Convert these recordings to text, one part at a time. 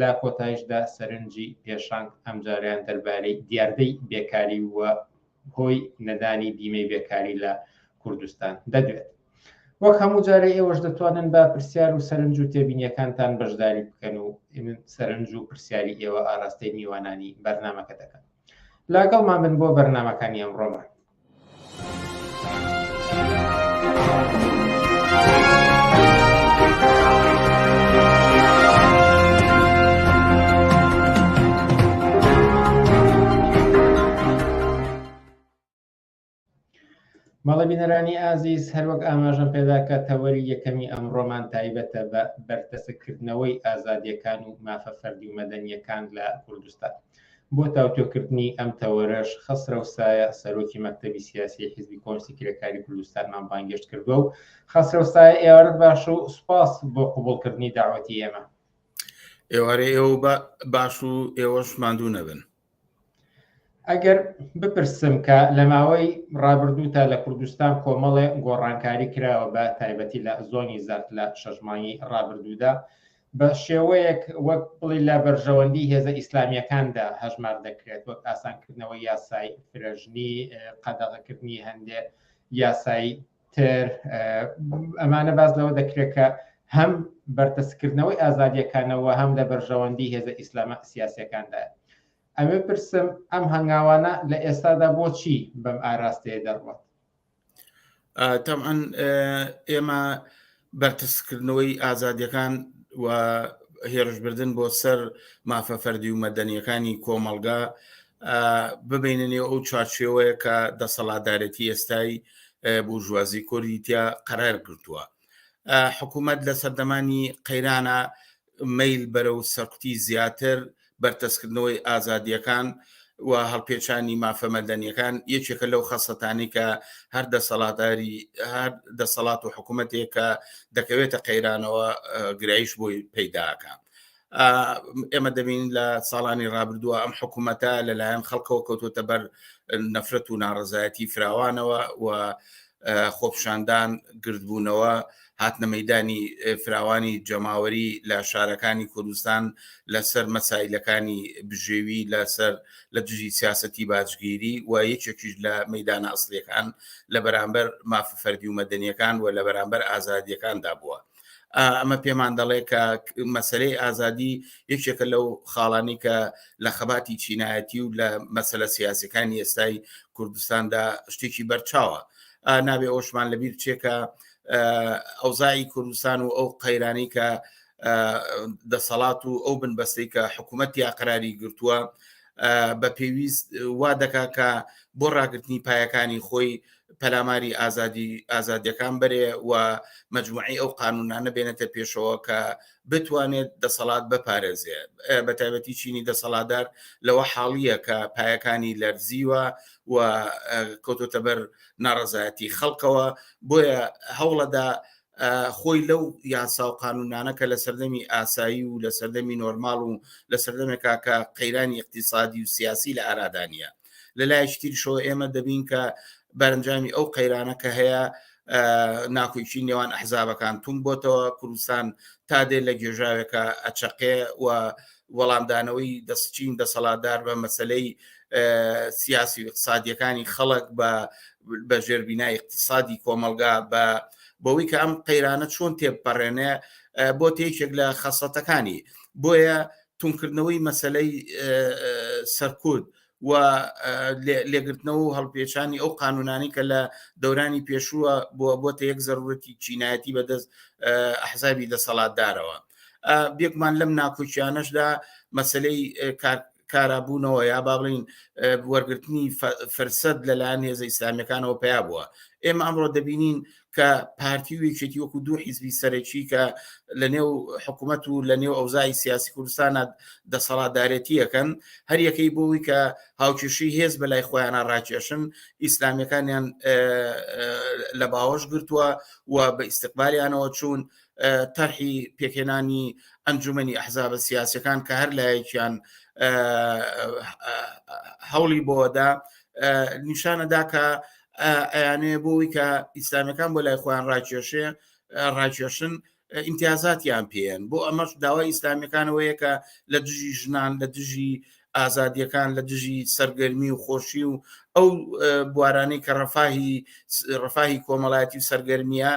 لە کۆتایشدا سەرنجی پێشانگ ئەمجارەیان دەربارەی دیاردەی بێکاری و هۆی نەدانی بیمەی بێکاری لە کوردستان دەدوێت. وەک هەموو جارەی ئێوەش دەتوانن بە پرسیار و سەرنج و تێبینیەکانتان بەشداری بکەن و سەرنج و پرسیاری ئێوە ئاراستەی میوانانی بەرنامەکە دەکەن. لاگەڵمان بن بۆ بەرنامەکانی ئەمڕۆمان. مەڵە بینەرانی ئازیز هەروەک ئاماژەم پێدا کە تەوەری یەکەمی ئەم ڕۆمان تایبەتە بە بەرتەسککردنەوەی ئازادیەکان و مافە فەردی و مەدەنیەکان لە کوردستان بۆ تاوتوێکردنی ئەم تەوەرەش خەسرەو سایە سەرۆکی مەکتەبی سیاسی حیزبی کۆنسی کرێکاری کوردستانمان بانگێشت کردوە و خەسرەو سایە ئێوارت باش و سوپاس بۆ قوبڵکردنی داوەتی ئێمە ئێوارێ ئێوە باش و ئێوەش ماندوو نەبن ئەگەر بپرسم کە لە ماوەی ڕابردوو تا لە کوردستان کۆمەڵێ گۆڕانکاری کراوە بە تایبەتی لە زۆنی زەرد لە شەژمانی ڕابردوودا بە شێوەیەک وەک بڵێی لە بەرژەوەندی هێزە ئیسلامییەکاندا هەژمار دەکرێت وەک ئاسانکردنەوەی یاسای فرەژنی، قەدەغەکردنی هەندێک یاسای تر، ئەمانە باس لەوە دەکرێت کە هەم بەرتەسکردنەوەی ئازادیەکانەوە هەم لە بەرژەوەندی هێزە ئیسلامە سیاسەکاندا. ئەمێ پرسم ئەم هەنگاوانە لە ئێستادا بۆچی بەم ئاراستەیە دەڕوات؟ تەعاان ئێمە بەرتسکردنەوەی ئازادیەکان و هێرشبردن بۆ سەر مافە فەردی و مەدەنیەکانی کۆمەلگا ببینە نێو ئەو چارچێوەیە کە دەسەڵاتدارێتی ئێستای بورژوازی کۆریتیا قەرار گرتووە حکوومەت لە سەردەمانی قەیرانە مەیل بەرەو سەرکوتی زیاتر، بەرتەسکردنەوەی ئازادییەکان و هەڵپێچانی مافە مەدەنییەکان یەکێکە لەو خەسڵەتانەی کە هەر دەسەڵاتداری هەر دەسەڵات و حکوومەتێک کە دەکەوێتە قەیرانەوە گرایش بۆی پەیداکە. ئێمە دەبین لە ساڵانی ڕابردووە ئەم حکوومەتە لەلایەن خەڵکەوە کەوتوتە بەر نەفرەت و ناڕزایەتی فراوانەوە و خۆپشاندان گردبوونەوە هاتنە مەدانی فراوانی جەماوەری لە شارەکانی کوردستان لەسەر مەسایلەکانی بژێوی لەسەر لە دژی سیاستی باجگیری و یەکێکیش لە مەدانە ئەسلەکان لە بەرامبەر مافی فەردی و مەدەنیەکان و لە بەرامبەر ئازادیەکاندا بووە ئەمە پێمان دەڵێ کە مەسلەی ئازادی یەکێکە لەو خاڵانی کە لە خەباتی چینایەتی و لە مەسلە سیاسەکانی ئێستای کوردستاندا شتێکی بەرچاوە نابێ ئەوشمان لەبیر چێکە ئەوزایی کوردستان و ئەو قەیرانی کە دەسەڵات و ئەو بنبەستەی کە حکوومەت یا قراری گرتووە بە پێویست وا دەکا کە بۆ ڕاگررتنی پایەکانی خۆی پەلاماری ئازادی ئازادیەکان بەرێ و مجموعی ئەو قانونانە بێنێتە پێشەوە کە بتوانێت دەسەڵات بپارێزێ بە تایبەتی چینی دەسەڵاتدار لەوە حاڵیە کە پایەکانی لەرزیوە و کۆتۆتە بەر ناڕزایەتی خەڵکەوە بۆیە هەوڵەدا خۆی لەو یاسا و قانونانە کە لە سەردەمی ئاسایی و لە سەردەمی نۆرماڵ و لە سەردەمێکا کە قەیرانی اقتصادی و سیاسی لە ئارادانە لە لایەکی تریشەوە ئێمە دەبین کە بەرەنجامی ئەو قەیرانە کە هەیە ناکۆکی نێوان ئەحزابەکان تون بۆتەوە کوردستان تا دێ لە گێژاوێکە ئەچەقێ و وەڵامدانەوەی دەستچین دەسەڵاتدار بە مەسلەی سیاسی و اقتصادیەکانی خەڵک بە بە ژێربینا اقتصادی کۆمەلگا بە بەوەی کە ئەم قەیرانە چۆن تێپەڕێنێ بۆ تێکێک لە خەسەتەکانی بۆیە توندکردنەوەی مەسەلەی سەرکوت و لێگرتنەوە و هەڵپێچانی ئەو قانونانی کە لە دەورانی پێشووە بووە بۆتە یەک زەرورەتی چینایەتی بەدەست ئەحزابی دەسەڵاتدارەوە بێکمان لەم ناکۆکیانەشدا مەسلەی کارابوونەوە یا با بڵین وەرگرتنی فرسەت لەلایەن هێزە ئیسلامیەکانەوە پیا بووە ئێمە ئەمڕۆ دەبینین کە پارتی و یەکێتی وەکو دوو حیزبی سەرەکی کە لە نێو حکوومەت و لە نێو ئەوزای سیاسی کوردستانە دەسەڵاتدارەتیەکەن هەر یەکەی بۆی کە هاوکێشی هێز بە لای خۆیانە ڕاکێشن ئیسلامیەکانیان لە باوەش گرتووە و بە ئیسیقبالیانەوە چوون تەرحی پێکێنانی ئەنجومی ئەحزابە سیاسەکان کە هەر لایەکیان هەوڵی بۆدا نیشانەدا کە ئەیانوێ بۆی کە ئیسلامەکان بۆ لای خۆیان ڕاکێشێ ڕاکێشن ئیمتیازاتیان پێن بۆ ئەمەش داوای ئیسلامیەکانەوەیە کە لە دژی ژنان لە دژی ئازادیەکان لە دژی سەرگەرمی و خۆشی و ئەو بوارانەی کە ڕفاهی ڕفاهی کۆمەڵایەتی و سەرگەرمیە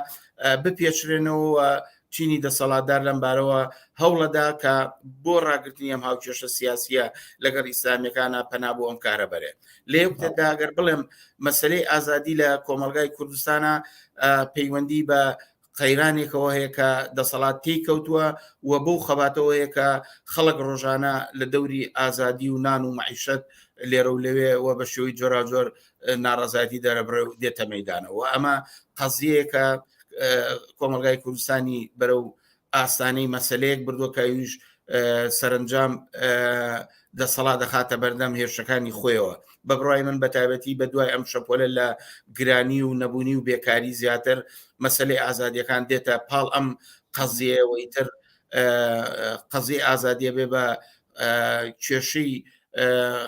بپێچرێنەوە چینی دەسەڵاتدار لەم بارەوە هەوڵەدا کە بۆ ڕاگرتنی ئەم هاوکێشە سیاسیە لەگەڵ ئیسلامیەکانە پەنا بۆ ئەم کارە بەرێ لە یەکتدا ئەگەر بڵێم مەسلەی ئازادی لە کۆمەلگای کوردستانە پەیوەندی بە قەیرانێکەوە هەیە کە دەسەڵات تێی کەوتووە و بەو خەباتەوەیە کە خەڵک ڕۆژانە لە دەوری ئازادی و نان و معیشت لێرە و لەوێ و بە شێوەی جۆراجۆر ناڕازایەتی دەرەبڕێ و دێتە مەدانەوە ئەمە قەزیەکە کۆمەلگای کوردستانی بەرە و ئاستانەی مەسلەیەک بردوەکەویش سەرنجام دەسەڵا دەخاتە بەردەم هێرشەکانی خۆیەوە بە بڕای من بەتابەتی بە دوای ئەم شەپۆلە لە گرانی و نەبوونی و بێکاری زیاتر مەسلەی ئازادیەکان دێتە پاڵ ئەم قەزیەوەی تر قەزی ئازادیە بێ بە کێشەی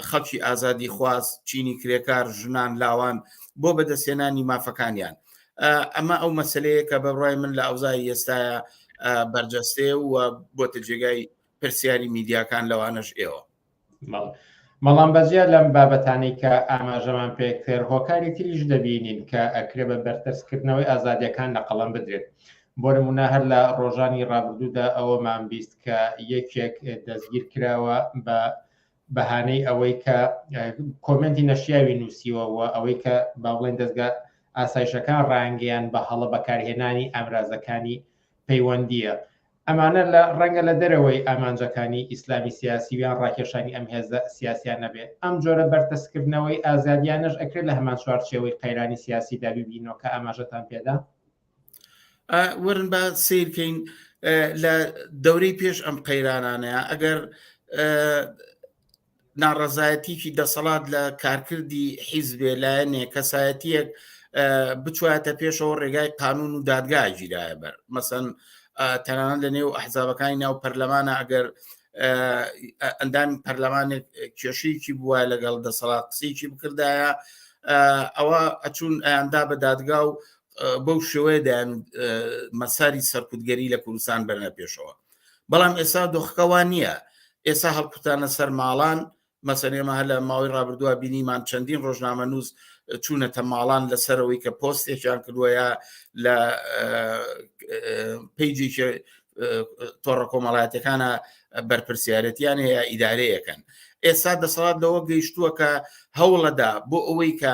خەڵکی ئازادی خواز چینی کرێکار ژنان لاوان بۆ بەدەستێنانی مافەکانیان ئەمە ئەو مەسلەیە کە بەڕای من لە ئەوزای ئێستاە بەرجەستێ و بۆتە جێگای پرسیاری میدیاکان لەوانەش ئێوە مەڵام بەجیا لەم بابەتانی کە ئاماژەمان پێکرد هۆکاری تریش دەبینین کە ئەکرێ بە بەرتەسکردنەوەی ئازادیەکان لە قەڵم بدرێت بۆ نموونە هەر لە ڕۆژانی ڕابردوودا ئەوەمان بیست کە یەکێک دەستگیر کراوە بە بەهانەی ئەوەی کە کۆمنتی نەشیاوی نووسیوە و ئەوەی کە باڵێن دەستگا ئاسایشەکان ڕانگەیان بە هەڵە بەکارهێنانی ئامرازەکانی پەیوەندیە ئەمانە لە ڕەنگە لە دەرەوەی ئامانجەکانی ئیسلامی سیاسیویان ڕاکێشانی ئەم هێزە سیاسیان نەبێت ئەم جۆرە بەرتەسکردنەوەی ئازادیانەش ئەکرێت لە هەمان چوارچەوەی قەیرانی سیاسی دابیبینەوە کە ئاماژەتان پێدا وەرن با سیرکەین لە دەورەی پێش ئەم قەیرانانەیە ئەگەر ناڕەزایەتیکی دەسەڵات لە کارکردی حیزبێ لایەنێ کەسایەتیەک بچواتە پێشەوە ڕێگای قانون و دادگا گیرایە بەر مەسەن تەنان لە نێو ئەحزابەکانی ناو پەرلەمانە ئەگەر ئەندامی پەرلەمانێک کێشەیەکی بووە لەگەڵ دەسەڵات قسەیەکی بکردایە ئەوە ئەچون ئەیاندا بە دادگا و بەو شێوەیە دەیان مەساری سەرکوتگەری لە کوردستان بەرنە پێشەوە بەڵام ئێستا دۆخەکەوان نییە ئێستا هەڵکوتانە سەر ماڵان مەسەرێمە هە لە ماوەی ڕابردووە بینیمان چەندین ڕۆژنامە نووس چوونەتە ماڵان لەسەرەوەی کە پۆستێکیان کردووەیە لە پیجی تۆڕە کۆمەڵاتەکانە بەرپسیارەتیان هەیە ئیدارەیەکەن ئێستا دەسەڵات لەوە گەیشتووە کە هەوڵەدا بۆ ئەوەی کە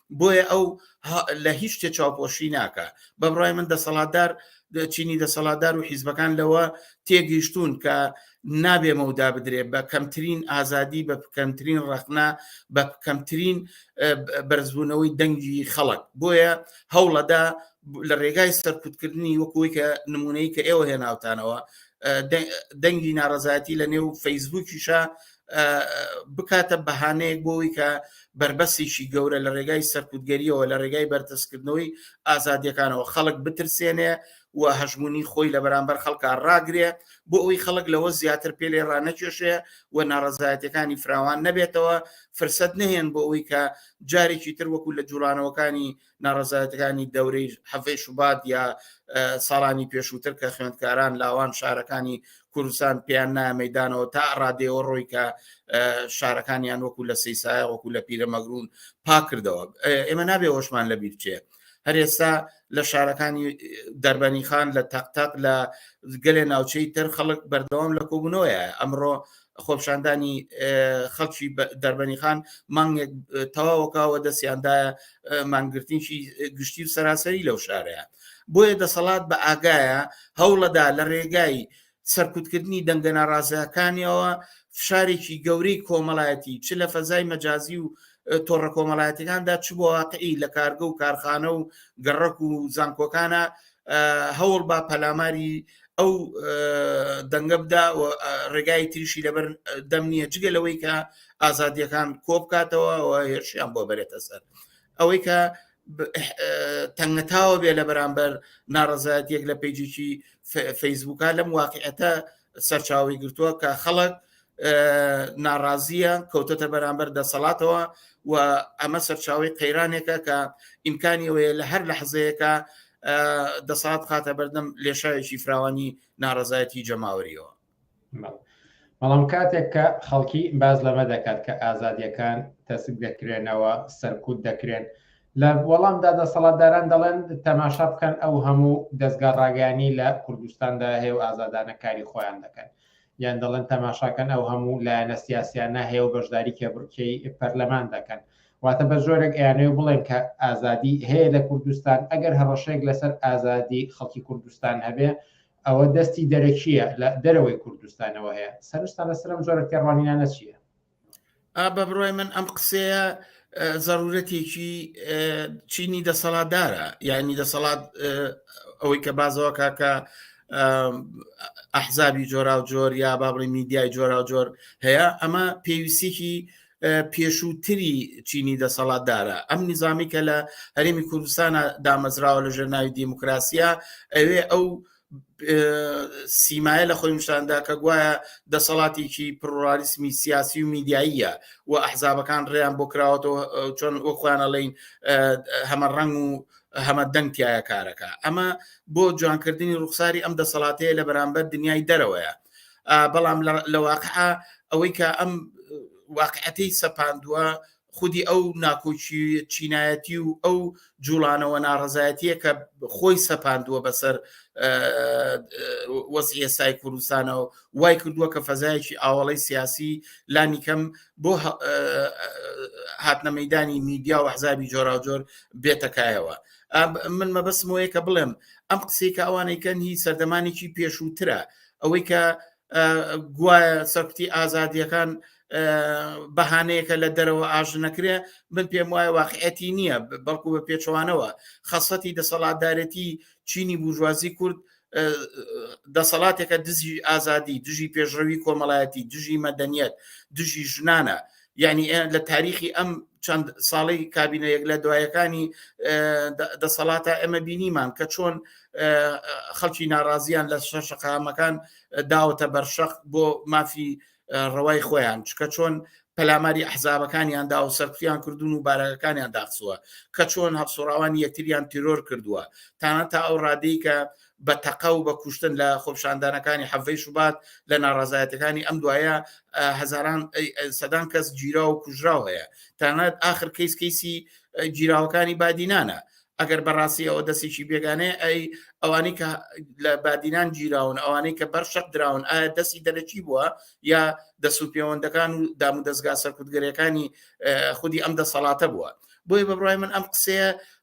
بۆیە ئەو لە هیچ شتێ چاوپۆشی ناکە بەبڕای من دەسەڵاتدار چینی دەسەڵاتدار و حیزبەکان لەوە تێگەیشتون کە نابێ مەودا بدرێت بە کەمترین ئازادی بە کەمترین ڕەخنا بە کەمترین بەرزبوونەوەی دەنگی خەڵک بۆیە هەوڵەدا لە ڕێگای سەرکوتکردنی وەکوی کە نمونەی کە ئێوە هێناوتانەوە دەنگی ناڕزایەتی لە نێو فەیسبووکیشە بکاتە بەهانەیەک بۆەوەی کە بربەسێکی گەورە لە ڕێگای سەرکوتگەریەوە لە ڕێگای بەرتەسکردنەوەی ئازادیەکانەوە خەڵک بترسێنێ و هەژمونی خۆی لە بەرامبەر خەڵکە ڕاگرێ بۆ ئەوی خەڵک لەوە زیاتر پێلێ ڕانەکێشێ و ناڕزایەتەکانی فراوان نەبێتەوە فرسەت نهێن بۆ ئەوی کە جارێکی تر وەکو لە جوڵانەوەکانی ناڕزایەتەکانی دەورەی حەفەی شوبات یا ساڵانی پێشووتر کە خوێندکاران لاوان شارەکانی کوردستان پێیان نامەدانەوە تا ڕادێەوە ڕۆی کە شارەکانیان وەکو لە سیسایە وەکو لە پیرە مەگرون پاکردەوە ئێمە نابێ وەشمان لە بیرچێ هەر ئێستا لە شارەکانی دەربەنی خان لە تەقتەق لە گەلێ ناوچەی تر خەڵک بەردەوام لە کۆبوونەوەیە ئەمڕۆ خۆپشاندانی خەڵکی دەربەنیخان مانگێک تەواوەکەوە دەستیاندایە مانگرتنیشی گشتی و سەراسەری لەو شارەیە بۆیە دەسەڵات بە ئاگایە هەوڵەدا لە ڕێگای سەرکوتکردنی دەنگە ناڕازەکانیەوە فشارێکی گەورەی کۆمەڵایەتی چ لە فەزای مەجازی و تۆڕە کۆمەڵایەتەکاندا چ بۆ واقعی لە کارگە و کارخانە و گەڕک و زانکۆکانە هەوڵ با پەلاماری ئەو دەنگە بدا و ڕێگای تریشی لەبەر دەم نییە جگە لەوەی کە ئازادیەکان کۆ بکاتەوە و هێرشیان بۆ بەرێتە سەر ئەوەی کە تەنگەتاوە بێ لە بەرامبەر ناڕزایەت یەک لە پیجیی فەیسبووکە لەم واقعەتە سەرچاوی گرتووە کە خەڵک ناڕازیە کەوتەتە بەرامبەر دەسەڵاتەوە و ئەمە سەرچاوی قەیرانێکە کە ئیمکانیەوەیە لە هەر لە حزەیەەکە دەسات خاتە بەردەم لێشاوێکی فراوانی ناڕزایەتی جەماوەریەوە بەڵام کاتێک کە خەڵکی باز لەمە دەکات کە ئازادیەکان تەسک دەکرێنەوە سەرکوت دەکرێن لە وەڵامدا دەسەڵاتداران دەڵێن تەماشا بکەن ئەو هەموو دەستگا ڕاگەانی لە کوردستاندا هەیە و ئازادانە کاری خۆیان دەکەن یان دەڵێن تەماشا کەن ئەو هەموو لایەنە سیاسیانە هەیە و بەشداری کێبڕکێی پەرلەمان دەکەن. واتە بە جۆرێک ئەیانەوێ بڵێن کە ئازادی هەیە لە کوردستان، ئەگەر هەڕەشەیەک لەسەر ئازادی خەڵکی کوردستان هەبێ ئەوە دەستی دەرەکییە لە دەرەوەی کوردستانەوە هەیە. سەرنجتان لەسەر ئەم جۆرە تێڕوانینانە چییە؟ بە بڕای من ئەم قسەیە زەرورەتێکی چینی دەسەڵاتدارە یعنی دەسەڵات ئەوەی کە بازەوە کاکە ئەحزابی جۆرا و جۆر یا بابڕی میدیای جۆرا و جۆر هەیە ئەمە پێویستێکی پێشووتری چینی دەسەڵاتدارە ئەم نظامی کە لە هەرێمی کوردستانە دامەزراوە لە ژێر ناوی دیموکراسیە ئەوێ ئەو سیمایە لە خۆی نیشاندا کە گوایە دەسەڵاتێکی پڕڕالیسمی سیاسی و میدیاییە و ئەحزابەکان ڕێیان بۆ کراوەەوە چۆن ئەو خۆیانە لەین هەمە ڕنگ و هەمە دەنگتیایە کارەکە ئەمە بۆ جوانکردنی ڕوخساری ئەم دەسەڵاتەیە لە بەرامبەر دنیای دەرەوەیە بەڵام لە واقع ئەوەی کە ئەم واقعەتی سەپاندووە خودی ئەو ناکۆکی چینایەتی و ئەو جوڵانەوە ناڕزایەتیە کە خۆی سەپاندووە بەسەر وەسی ئێستای کوردستانەوە وای کردووە کە فەزایەکی ئاوڵەی سیاسی لانیکەم بۆ هاتنە مەدانی میدیا و حزابی جۆراوجۆر بێتەکایەوە من مەبەسمەوەیە کە بڵێم ئەم قسەی کە ئەوانەی کەن هی سەردەمانێکی پێشووترە ئەوەی کە گوایە سەرکوتی ئازادیەکان بەهانەیەکە لە دەرەوە ئاژنەکرێ من پێم وایە واقعەتی نییە بەڵکو بە پێچوانەوە خەسەتی دەسەڵاتدارەتی چینی بورژوازی کورد دەسەڵاتێکە دزی ئازادی دژی پێشڕەوی کۆمەڵایەتی دژی مەدەنیەت دژی ژنانە یعنی لە تاریخی ئەم چەند ساڵی کابینە یەک لە دوایەکانی دەسەڵاتە ئەمە بینیمان کە چۆن خەڵکی ناڕازیان لە شەر شقامەکان داوەتە بەرشەق بۆ مافی ڕەوای خۆیان چکە چۆن پەلاماری ئەحزابەکانیان دا و سەرفیان کردوون و بارەکەکانیان داخسووە کە چۆن هەفسوڕاوانی یەکتریان تیرۆر کردووە تاە تا ئەو ڕادەی کە بە تەقە و بە کوشتن لە خۆپیشاندانەکانی حەڤەی شوبات لە ناڕازایەتەکانی ئەم دوایە هەزاران سەدان کەس گیرا و کوژراو هەیە تانەت ئاخر کەیس کەیسی گیراوەکانی بادینانە ئەگەر بەڕاستی ئەوە دەستێکی بێگانەیە ئەی ئەوانی کە لە بادینان گیراون ئەوانەی کە بەر شەق دراون ئایا دەستی دەرەکی بووە یا دەست و پەیوەندەکان و دام و دەستگا سەرکوتگەرەکانی خودی ئەم دەسەڵاتە بووە بۆی بەبڕای من ئەم قسەیە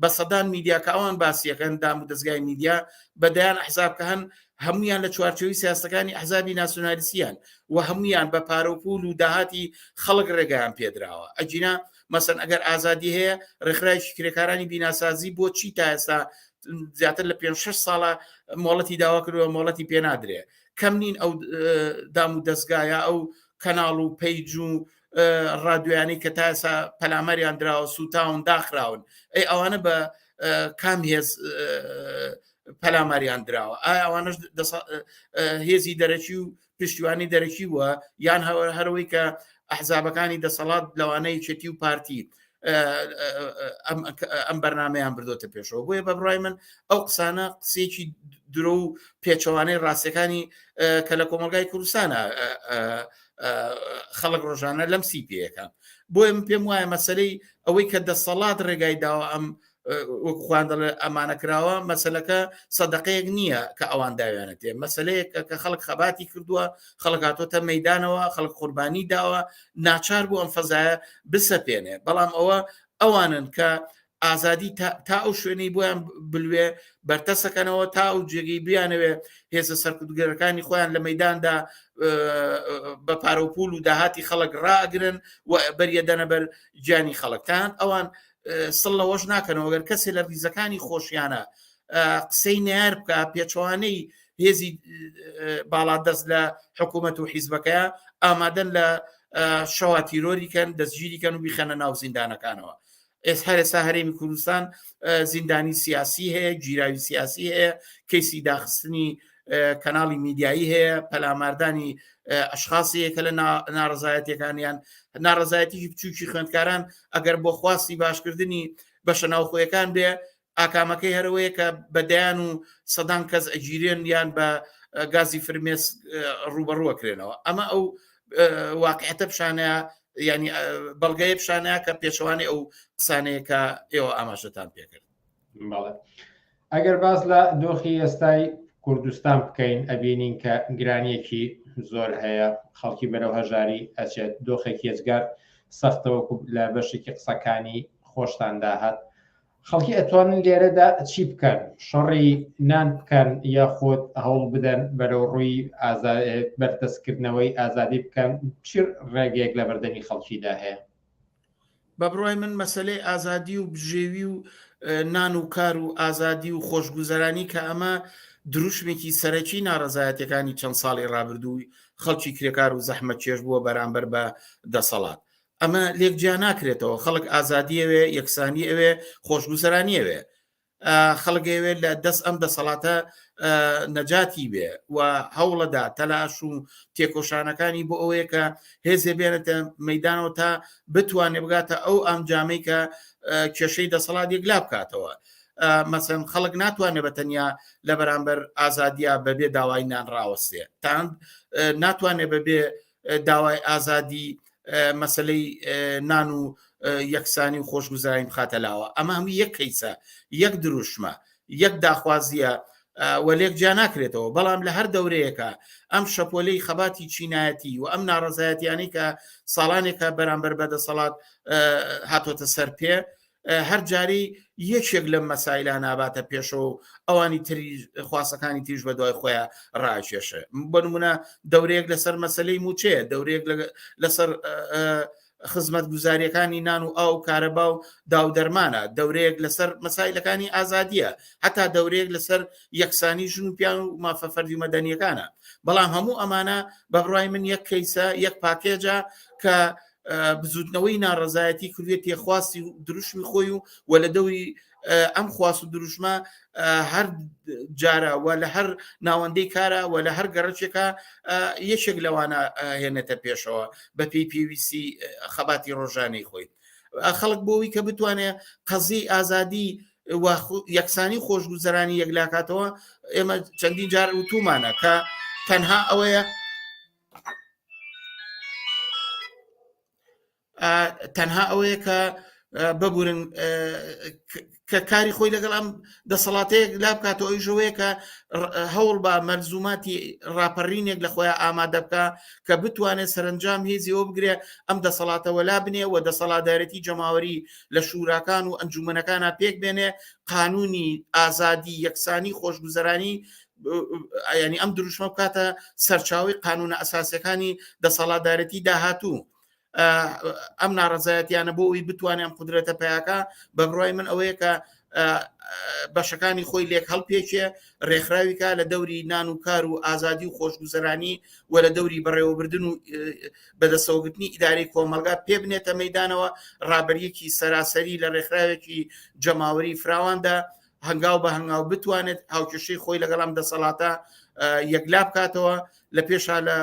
بە سەدان میدیا کە ئەوان باسیەکەن دام و دەستگای میدیا بە دەیان حزاب کە هەن هەمویان لە چوارچەوی سیاستەکانی حزابی ناسیۆنالیسیان و هەمویان بە پارەپول و داهاتی خەڵک ڕێگەیان پێدراوە ئەجینا مەسن ئەگەر ئازادی هەیە ڕێکخراوی کرێکارانی بیناسازی بۆ چی تا ئێستا زیاتر لە 5 6 ساڵە مۆڵەتی داوا کردوە مۆڵەتی پێنادرێ کەم نین ئەو دام و دەستگایە ئەو کەناڵ و پەیج و ڕادویانی کە تا ئێسا پەلامەریان دراوە سووتاون داخراون ئەی ئەوانە بە کام هێز پەلاماریان دراوە ئایا ئەوانش هێزی دەرەکی و پشتیوانی دەرەکی بووە یان هەوە هەروەی کە ئەحزابەکانی دەسەڵات لەوانەیە چێتی و پارتی ئەم بەرنمەیان بردۆتە پێشەوە بۆیە بە بڕای من ئەو قسانە قسێکی درۆ و پێچەوانەی ڕاستەکانی کە لە کۆمەلگای کوردستانە خەڵک ڕۆژانە لەم سی پێەکە بۆیە من پێم وایە مەسلەی ئەوەی کە دەسەڵات ڕێگای داوە ئەم وەک خوان دەڵێ ئەمانە کراوە مەسلەکە سەدەقەیەک نییە کە ئەوان داوێنێت تێ مەسلەیەک کە خەڵک خەباتی کردووە خەڵکاتۆتە مەدانەوە خەڵک قوربانی داوە ناچار بوو ئەم فەزایە بسەپێنێ بەڵام ئەوە ئەوانن کە ئازادی تا ئەو شوێنەی بۆیان بلوێ بەرتەسەکەنەوە تا ئەو جێگەی بیانەوێ هێزە سەرکردگەرەکانی خۆیان لە مەداندا بە پارەپول و داهاتی خەڵک ڕاگرن و بەریەدەنە بەر گیانی خەڵکتان ئەوان سڵ لەوەش ناکەنەوە گەر کەسێ لە ریزەکانی خۆشیانە قسەی نار بکە پێچوانەی هێزی باڵا دەست لە حکوومەت و حیزبەکە ئامادەن لە شەوا تیرۆریکەن دەستگیریکەن و بیخەنە ناو زیندانەکانەوە ئێس هەرێسا هەرێمی کوردستان زیندانی سیاسی هەیە گیراوی سیاسی هەیە کەیسی داخستنی کەناڵی میدیایی هەیە پەلاماردانی ئەشخاصەیە کە لە ناڕزایەتەکانیان ناڕزایەتی بچوکی خوێندکاران ئەگەر بۆ خواستی باشکردنی بەشە ناوخۆیەکان بێ ئاکامەکەی هەرەوەیە کە بەدەیان و سەدان کەس ئەگیرێن یان بە گازی فرمێس ڕوبەڕوەکرێنەوە ئەمە ئەو واقعەتە پیشانەیە ینی بەڵگەیە پیشانەیە کە پێشوانی ئەو قسانەیە کە ئێوە ئاماژەتان پێکرد ئەگەر باس لە دۆخی ئێستای کوردستان بکەین ئەبینین کە گرانیەکی زۆر هەیە خەڵکی بەرەو هەژاری ئەچێت دۆخێک هێزگار سەختەوەکو لە بەشێکی قسەکانی خۆشتان داهات خەڵکی ئەتوانن لێرەدا چی بکەن شەڕی نان بکەن یا خۆت هەوڵ بدەن بەرەو ڕووی بەردەستکردنەوەی ئازادی بکەن چی ڕێگەیەک لە بەردەمی خەڵکیدا هەیە بە بڕوای من مەسلەی ئازادی و بژێوی و نان و کار و ئازادی و خۆشگوزەرانی کە ئەمە دروشمێکی سەرەکی ناڕزایەتەکانی چەند ساڵی ڕابردووی خەڵکی کرێکار و زەحمە چێش بووە بەرامبەر بە دەسەڵات ئەمە لێک جیا ناکرێتەوە خەڵک ئازادیەوێ یەکسانی ئەوێ خۆشگوزەرانیەوێ خەڵک ئەوێت لە دەست ئەم دەسەڵاتە نەجاتی بێ و هەوڵەدا تەلاش و تێکۆشانەکانی بۆ ئەوەیە کە هێزێ بێنێتە مەدانەوە تا بتوانێ بگاتە ئەو ئەمجامی کە کێشەی دەسەڵات یەکلا بکاتەوە. مەسەن خەڵک ناتوانێت بە تەنیا لە بەرامبەر ئازادیا بەبێ داوای نان ڕاوەستێ تاند ناتوانێت بەبێ داوای ئازادی مەسلەی نان و یەکسانی و خۆشگوزارین بخاتە لاوە ئەمە هەموو یەک کەیسە یەک دروشمە یەک داخوازیە وەلێک جیا ناکرێتەوە بەڵام لە هەر دەورەیەەکە ئەم شەپۆلەی خەباتی چینایەتی و ئەم ناڕزایەتیانی کە ساڵانێکە بەرامبەر بەدەسەڵات هاتۆتە سەر پێ هەر جارەی یەکێک لەم مەسایلا ناباتە پێشەوە و ئەوانی تری خواسەکانی تیژ بە دوای خۆیان ڕاکێشە بەنمونە دەورەیەک لەسەر مەسلەی موچەیە دەورەیەک لەسەر خزمەت گوزاریەکانی نان و ئاو کارەبا و داودەرمانە دەورەیەک لەسەر مەسایلەکانی ئازادیە هەتا دەورەیەک لەسەر یەکسانی ژن و پیان و مافە فەردی مەدەنیەکانە بەڵام هەموو ئەمانە بەبڕای من یەک کەیسە یەک پاکێجە کە بزوتنەوەی ناڕزایەتی کردێتی خواستی و دروشمی خۆی و و لە دەوری ئەم خواست و دروشمە هەر جارە و لە هەر ناوەندەی کارە و لە هەر گەڕچێکە یەکێک لەوانە هێنێتە پێشەوە بە پێی پێویستی خەباتی ڕۆژانەی خۆی خەڵک بۆەوەی کە بتوانێت قەزی ئازادی یەکسانی خۆشگوزەرانی یەکلاکاتەوە ئێمە چەندین جار وتومانە کە تەنها ئەوەیە تەنها ئەوەیە کە ببورن کە کاری خۆی لەگەڵ ئەم دەسەڵاتەیەک لا بکاتەوە ئەوی ژەوەیە کە هەوڵ بە مەرزوماتی ڕاپەڕینێک لە خۆیان ئامادە بکە کە بتوانێت سەرنجام هێزیەوە بگرێ ئەم دەسەڵاتەوە لا بنێ و دەسەڵاتدارەتی جەماوەری لە شوراکان و ئەنجومەنەکانە پێک بێنێ قانونی ئازادی یەکسانی خۆشگوزەرانی ینی ئەم دروشمە بکاتە سەرچاوی قانونە ئەساسەکانی دەسەڵاتدارەتی داهاتوو ئەم ناڕزایەتیانە بۆ ئەوی بتوانێت ئەم قدرێتە پیاکە بە بڕای من ئەوەیە کە بەشەکانی خۆی لێک هەڵپێکێ ڕێکخراویکە لە دەوری نان و کار و ئازادی و خۆشگوزەرانی و لە دەوری بەڕێوەبردن و بەدەسەوەگرتنی ئیداری کۆمەلگا پێ بنێتە مەدانەوە ڕابەریەکی سەراسەری لە ڕێکخراوێکی جەماوەری فراواندا هەنگاو بە هەنگاو بتوانێت هاوکێشەی خۆی لەگەڵام دەسەڵاتە یەکلا بکاتەوە لە پێشا لە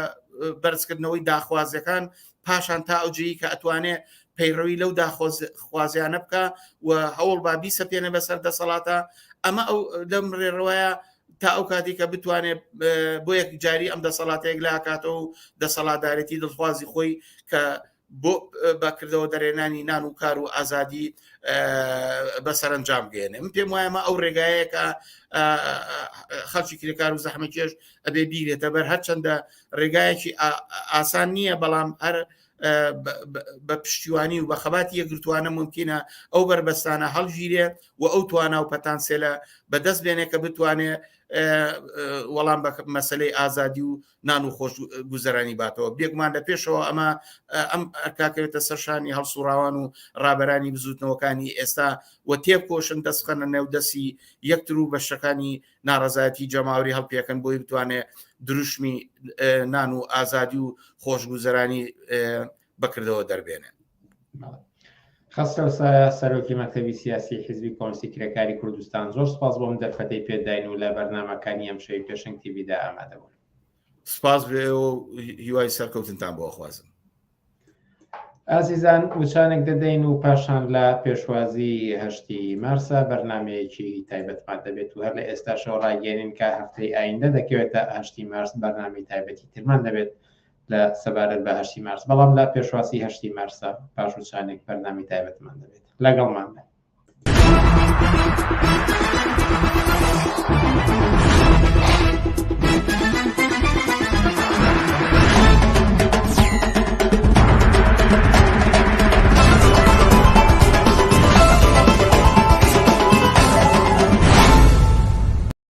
بەرزکردنەوەی داخوازەکان پاشان تا ئەوجەیی کە ئەتوانێ پەیڕەوی لەو داخوازیانە بکە و هەوڵ با بیسە پێێنە بەسەر دەسەڵاتە ئەمە ئەو لەم ڕێڕەوەیە تا ئەو کاتی کە بتوانێت بۆ یەک جاری ئەم دەسەڵاتەیەک لاکاتەوە و دەسەڵاتدارێتی دڵخوازی خۆی کە بۆ بە کردەوە دەرێنانی نان و کار و ئازادی بە سەرنجام بێنێ من پێم وایە ئەو ڕێگایەکە خەڵکی کرێکار و زەحمەکێش ئەبێ بیرێتە بەر هەرچەندە ڕێگایەکی ئاسان نییە بەڵام هەر بە پشتیوانی و بە خەباتی یەکگرتوانە ممکنە ئەو بەربەستانە هەڵگیرێ و ئەو توانا و پەتانسێلە بەدەست بێنێ کە بتوانێ وەڵام بە مەسلەی ئازادی و نان و خۆش گوزەرانی باتەوە بێگومان لە پێشەوە ئەمە ئەم ئەرکاکەوێتە سەرشانی هەڵسوڕاوان و ڕابەرانی بزوتنەوەکانی ئێستا و تێبکۆشن دەستخەنە نێو دەسی یەکتر و بەشەکانی ناڕزایەتی جەماوری هەڵپێکن بۆی بتوانێت دروشمی نان و ئازادی و خۆشگوزەرانی بەکردەوە دەربێنێن. خەسرەو سایە سەرۆکی مەکتەبی سیاسی حیزبی کۆنسی کرێکاری کوردستان زۆر سپاس بۆم دەرفەتەی پێداین و لە بەرنمەکانی ئەم شەوی پێشنگ تیبیدا ئامادەبوون سپاس بێ و هیوای سەرکەوتنتان بۆ خوازم ئازیزان وچانێک دەدەین و پاشان لە پێشوازی هەشتی مارسا بەرنمەیەکی تایبەتمان دەبێت و هەر لە ئێستا شەوڕاگەێنین کە هەفتەی ئایندە دەکەوێتە ئاشتی مارس بەرنامی تایبەتی ترمان دەبێت لە سەبارەت بە هەشتی مارس بەڵام لە پێشواسی هەشتی مارسە پاش وچانێک بەرنامی تایبەتمان دەبێت لەگەڵمان بن.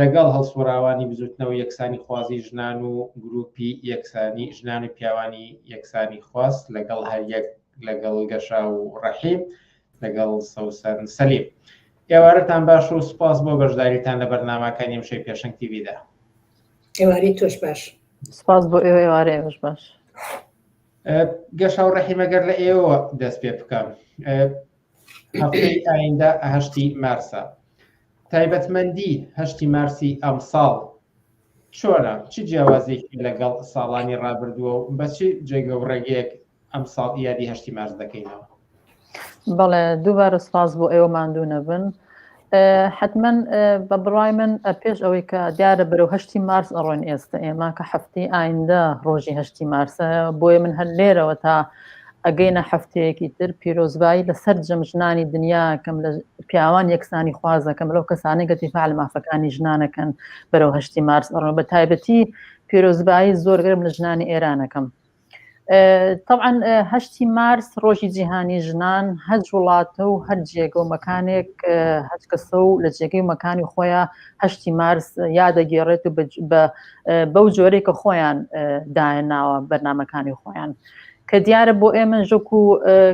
لەگەڵ هەڵسوڕاوانی بزوتنەوەی یەکسانی خوازی ژنان و گروپی یەکسانی ژنان و پیاوانی یەکسانی خواز لەگەڵ هەریەک لەگەڵ گەشا و ڕەحیم لەگەڵ سەوسەن سەلیم ئێوارەتان باش و سپاس بۆ بەشداریتان لە بەرنامەکانی ئەمشەی پێشنگ تیویدا ئێوارەی تۆش باش سپاس بۆ ئێوە ئێوارەی ئەمش باش گەشا و ڕەحیمەگەر لە ئێوە دەست پێ بکەم هەفتەی ئایندە هەشتی مارسە تایبەتمەندی هەشتی مارسی ئەمساڵ چۆنە چ جیاوازێکی لەگەڵ ساڵانی ڕابردووە و بە چ جێگە و ڕێگەیەک ئەمساڵ یادی هەشتی مارس دەکەینەوە بەڵێ دووبارە سپاس بۆ ئێوە ماندوو نەبن حتمەن بە بڕای من پێش ئەوەی کە دیارە بەرەو هەشتی مارس ئەڕۆین ئێستا ئێمە کە هەفتی ئایندە ڕۆژی هەشتی مارسە بۆیە من هەر لێرەوە تا ئەگەینە هەفتەیەکی تر پیرۆزبایی لە سەر جەم ژنانی دنیا کەم لە پیاوان یەکسانی خوازەکەم لەو کەسانی گەتی فعل مافەکانی ژنانەکەن بەرەو هەشتی مارس ئەڕۆن بە تایبەتی پیرۆزبایی زۆرگرم لە ژنانی ئێرانەکەم تەعاان هەشتی مارس ڕۆژی جیهانی ژنان هەج وڵاتە و هەر جێگە و مەکانێک هەج کەسە و لە جێگەی مەکانی خۆیان هەشتی مارس یادەگێڕێت و بەو جۆرەی کە خۆیان دایە ناوە بەرنمەکانی خۆیان. کە دیارە بۆ ئێمە ژۆک و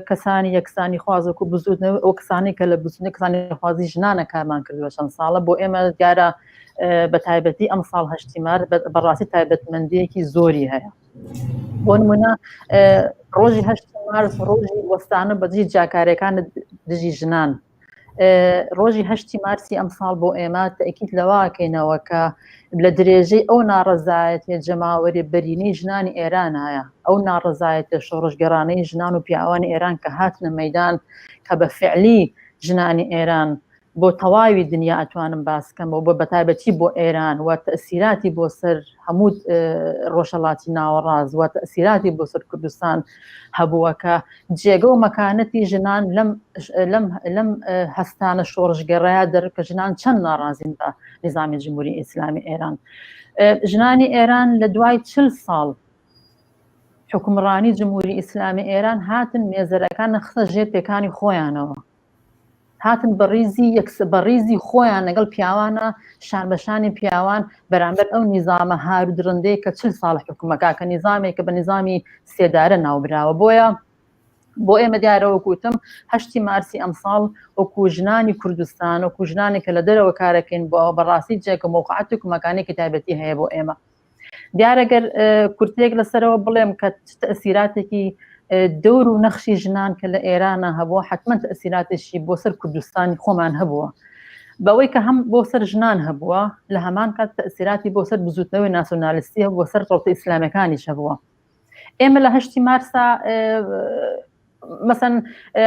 کەسانی یەکسانی خوازۆک و بزودنە ئەو کەسانی کە لە بزودنە کەسانی خوازی ژنانە کارمان کردوە چەند ساڵە بۆ ئێمە دیارە بە تایبەتی ئەم ساڵ هەشتی مار بەڕاستی تایبەتمەندیەکی زۆری هەیە. بۆ نمونە ڕۆژی هەشت مارس ڕۆژی وەستانە بەدژی جاکارەکان دژی ژنان ڕۆژی هەشتی مارسی ئەمساڵ بۆ ئێمە تەکیت لەواکەینەوە کە لە درێژەی ئەو ناڕزایەتێ جەماوەری بەرینی ژنانی ئێرانایە ئەو ناڕزایەتە شۆڕژگەرانەی ژنان و پیاوانی ئێران کە هاتنە مەدان کە بە فعلی ژنانی ئێران بۆ تەواوی دنیا ئەتوانم باسکەمەوە بۆ بەتابەتی بۆ ئێران وە تەسیراتی بۆ سەر هەموو ڕۆژەڵاتی ناوەڕاز وە تەسیراتی بۆ سەر کوردستان هەبووەکە جێگە و مەکانەتی ژنان لەم هەستانە شۆڕژگەڕایە دەرکە ژنان چەند ناڕازین بە نظامی جمهوری ئیسلامی ئێران ژنانی ئێران لە دوای چل ساڵ حکومڕانی جمهوری ئیسلامی ئێران هاتن مێزەرەکان نەخسە ژێر پێکانی خۆیانەوە هاتن بە ڕیزی یەکس بە ڕیزی خۆیان لەگەڵ پیاوانە شان بەشانی پیاوان بەرامبەر ئەو نیزامە هارو درندەیە کە چل ساڵ حکومەکە کە نیزامێک کە بە نیزامی سێدارە ناوبراوە بۆیە بۆ ئێمە دیارەوە کوتم هەشتی مارسی ئەمساڵ وەکو ژنانی کوردستان وەکو ژنانێکە لە دەرەوە کارەکەین بۆ بەڕاستی جێکە مۆقعاتێک مەکانێکی تایبەتی هەیە بۆ ئێمە دیارە گەر کورتێک لەسەرەوە بڵێم کە تەسیراتێکی دەور و نەخشی ژنان کە لە ئێرانە هەبووە حتممە تەسیراتێکی بۆ سەر کوردستانی خۆمان هەبووە بەوەی کە هەم بۆ سەر ژنان هەبووە لە هەمان کات تەسیراتی بۆ سەر بزوتنەوەی ناسۆنالیستی هەبووە سەر ڕۆتە ئیسلامەکانیش هەبووە ئێمە لە هەشتی مارسا مەسەن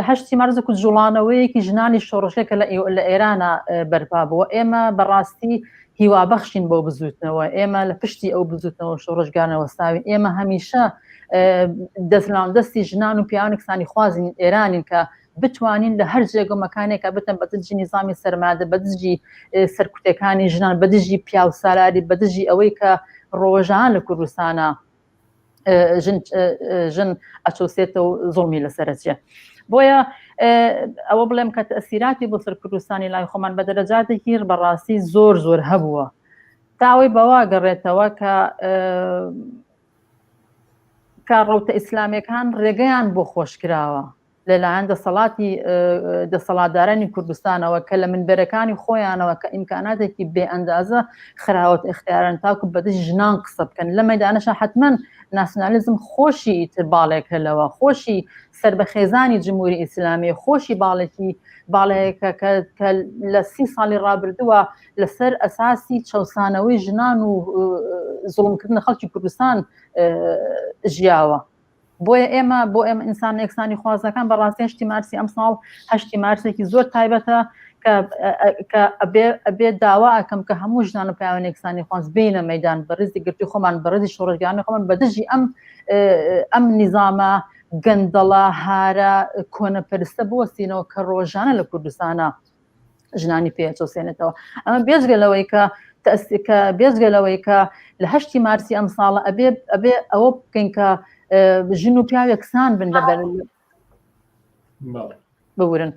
هەشتی مارزە کو جوڵانەوەیەکی ژنانی شۆڕشێکە لە لە ئێرانە بەرپا بووە ئێمە بەڕاستی هیوا بەخشین بۆ بزوتنەوە ئێمە لە پشتی ئەو بزوتنەوە شۆڕشگانەوە ساوین ئێمە هەمیشە دەستناو دەستی ژنان و پیاوانکسانی خوازین ئێرانین کە بتوانین لە هەر جێگە و مەکانێکا بتن بە دژی نیزامی سەرمادە بە دژی سەرکوتەکانی ژنان بە دژی پیاو سالاری بە دژی ئەوەی کە ڕۆژان لە کوردستانە ژن ئەچۆسێتە و زۆڵمی لەسەرچێ بۆیە ئەوە بڵێم کە تەسیراتی بۆ سەر کوردستانی لای خۆمان بە دەرەجاتێکی بەڕاستی زۆر زۆر هەبووە تاوەی بەوا گەڕێتەوە کە کە ڕوتە ئیسلامەکان ڕێگەیان بۆ خۆشکراوە لەلایەن دەسەڵاتی دەسەڵاتدارانی کوردستانەوە کە لە منبەرەکانی خۆیانەوە کە ئیمکاناتێکی بێ ئەندازە خراوەت اختیارن تاکو بەدش ژنان قسە بکەن لە مەدانەشە حتمما ناسیۆنالیزم خۆشی تر باڵێکە لەوە خۆشی سەر بە خێزانی جمهوری ئیسلامی خۆشی باڵێکی باڵەیەکە کە لە سی ساڵی ڕابردووە لەسەر ئەساسی چەسانەوەی ژنان و زوڵمکردن خەڵکی کوردستان ژیاوە. بۆیە ئێمە بۆ ئێمە ئینسان یەکسانی خوازەکان بە ڕاستی هەشتی مارسی ئەم ساڵ هەشتی مارسێکی زۆر تایبەتە ئەبێ داوا ئەکەم کە هەموو ژنان و پیاوان یەکسانی خۆنس بینە مەدان بە ڕزی گرتی خۆمان بە ڕزی شۆڕژگانە خۆمان بە دژی ئەم ئەم نیزامە گەندەڵە هارە کۆنەپەرستە بوەستینەوە کە ڕۆژانە لە کوردستانە ژنانی پێ چۆسێنێتەوە ئەمە بێزگە لەوەی کە تەسکە بێزگە لەوەی کە لە هەشتی مارسی ئەم ساڵە ئەبێ ئەبێ ئەوە بکەین کە ژن و پیاوێکسان بن لەبەر ببورن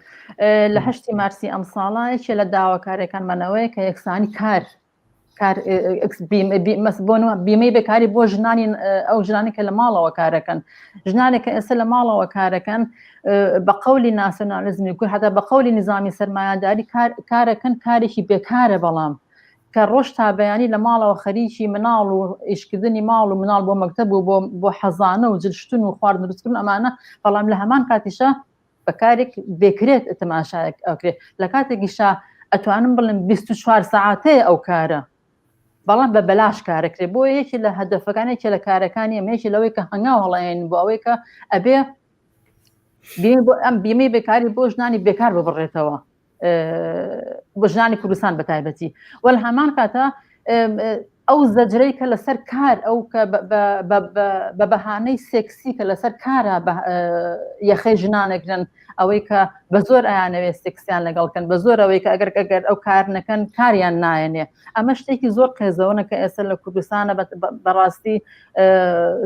لە هەشتی مارسی ئەم ساڵایەکێ لە داواکارەکانمانەوەی کە یەکسانی کار بیمەی بەکاری بۆ ژنانی ئەو ژنانی کە لە ماڵەوە کارەکەن ژنانێک کە ئێستا لە ماڵەوە کارەکەن بە قولی ناسیۆنالیزمی کور هەتا بە قولی نظامی سەرمایهداری کارەکەن کارێکی بێکارە بەڵام کە ڕۆژ تا بەیانی لە ماڵەوە خەریکی مناڵ و ئیشکردنی ماڵ و مناڵ بۆ مەکتب و بۆ حەزانە و جلشتن و خواردن دروستکردن ئەمانە بەڵام لە هەمان کاتیشە بە کارێک بێکرێت تەماشایەک ئەوکرێت لە کاتێکیشا ئەتوانم بڵم 24 ساعتەیە ئەو کارە بەڵام بە بەلاش کارەکرێت بۆ یەکی لە هەدەفەکانێکی لە کارەکانی ئەمەیەکی لەوەی کە هەنگاو هەڵێن بۆ ئەوەی کە ئەبێ بۆ ئەم بیمەی بێکاری بۆ ژنانی بێکار ببڕێتەوە بە ژنانی کوردستان بە تایبەتی وەل هەمان کاتە ئەو زەجرەی کە لەسەر کار ئەو کە بە بەهانەی سێکسی کە لەسەر کارە یەخەی ژنانەگرن ئەوەی کە بە زۆر ئایانەوێت سێکسیان لەگەڵکەن بە زۆر ئەوەی کە ئەگەر ئەگەر ئەو کار نەکەن کاریان نایەنێ ئەمە شتێکی زۆر قێزەوەە کە ئێستا لە کوردستانە بەڕاستی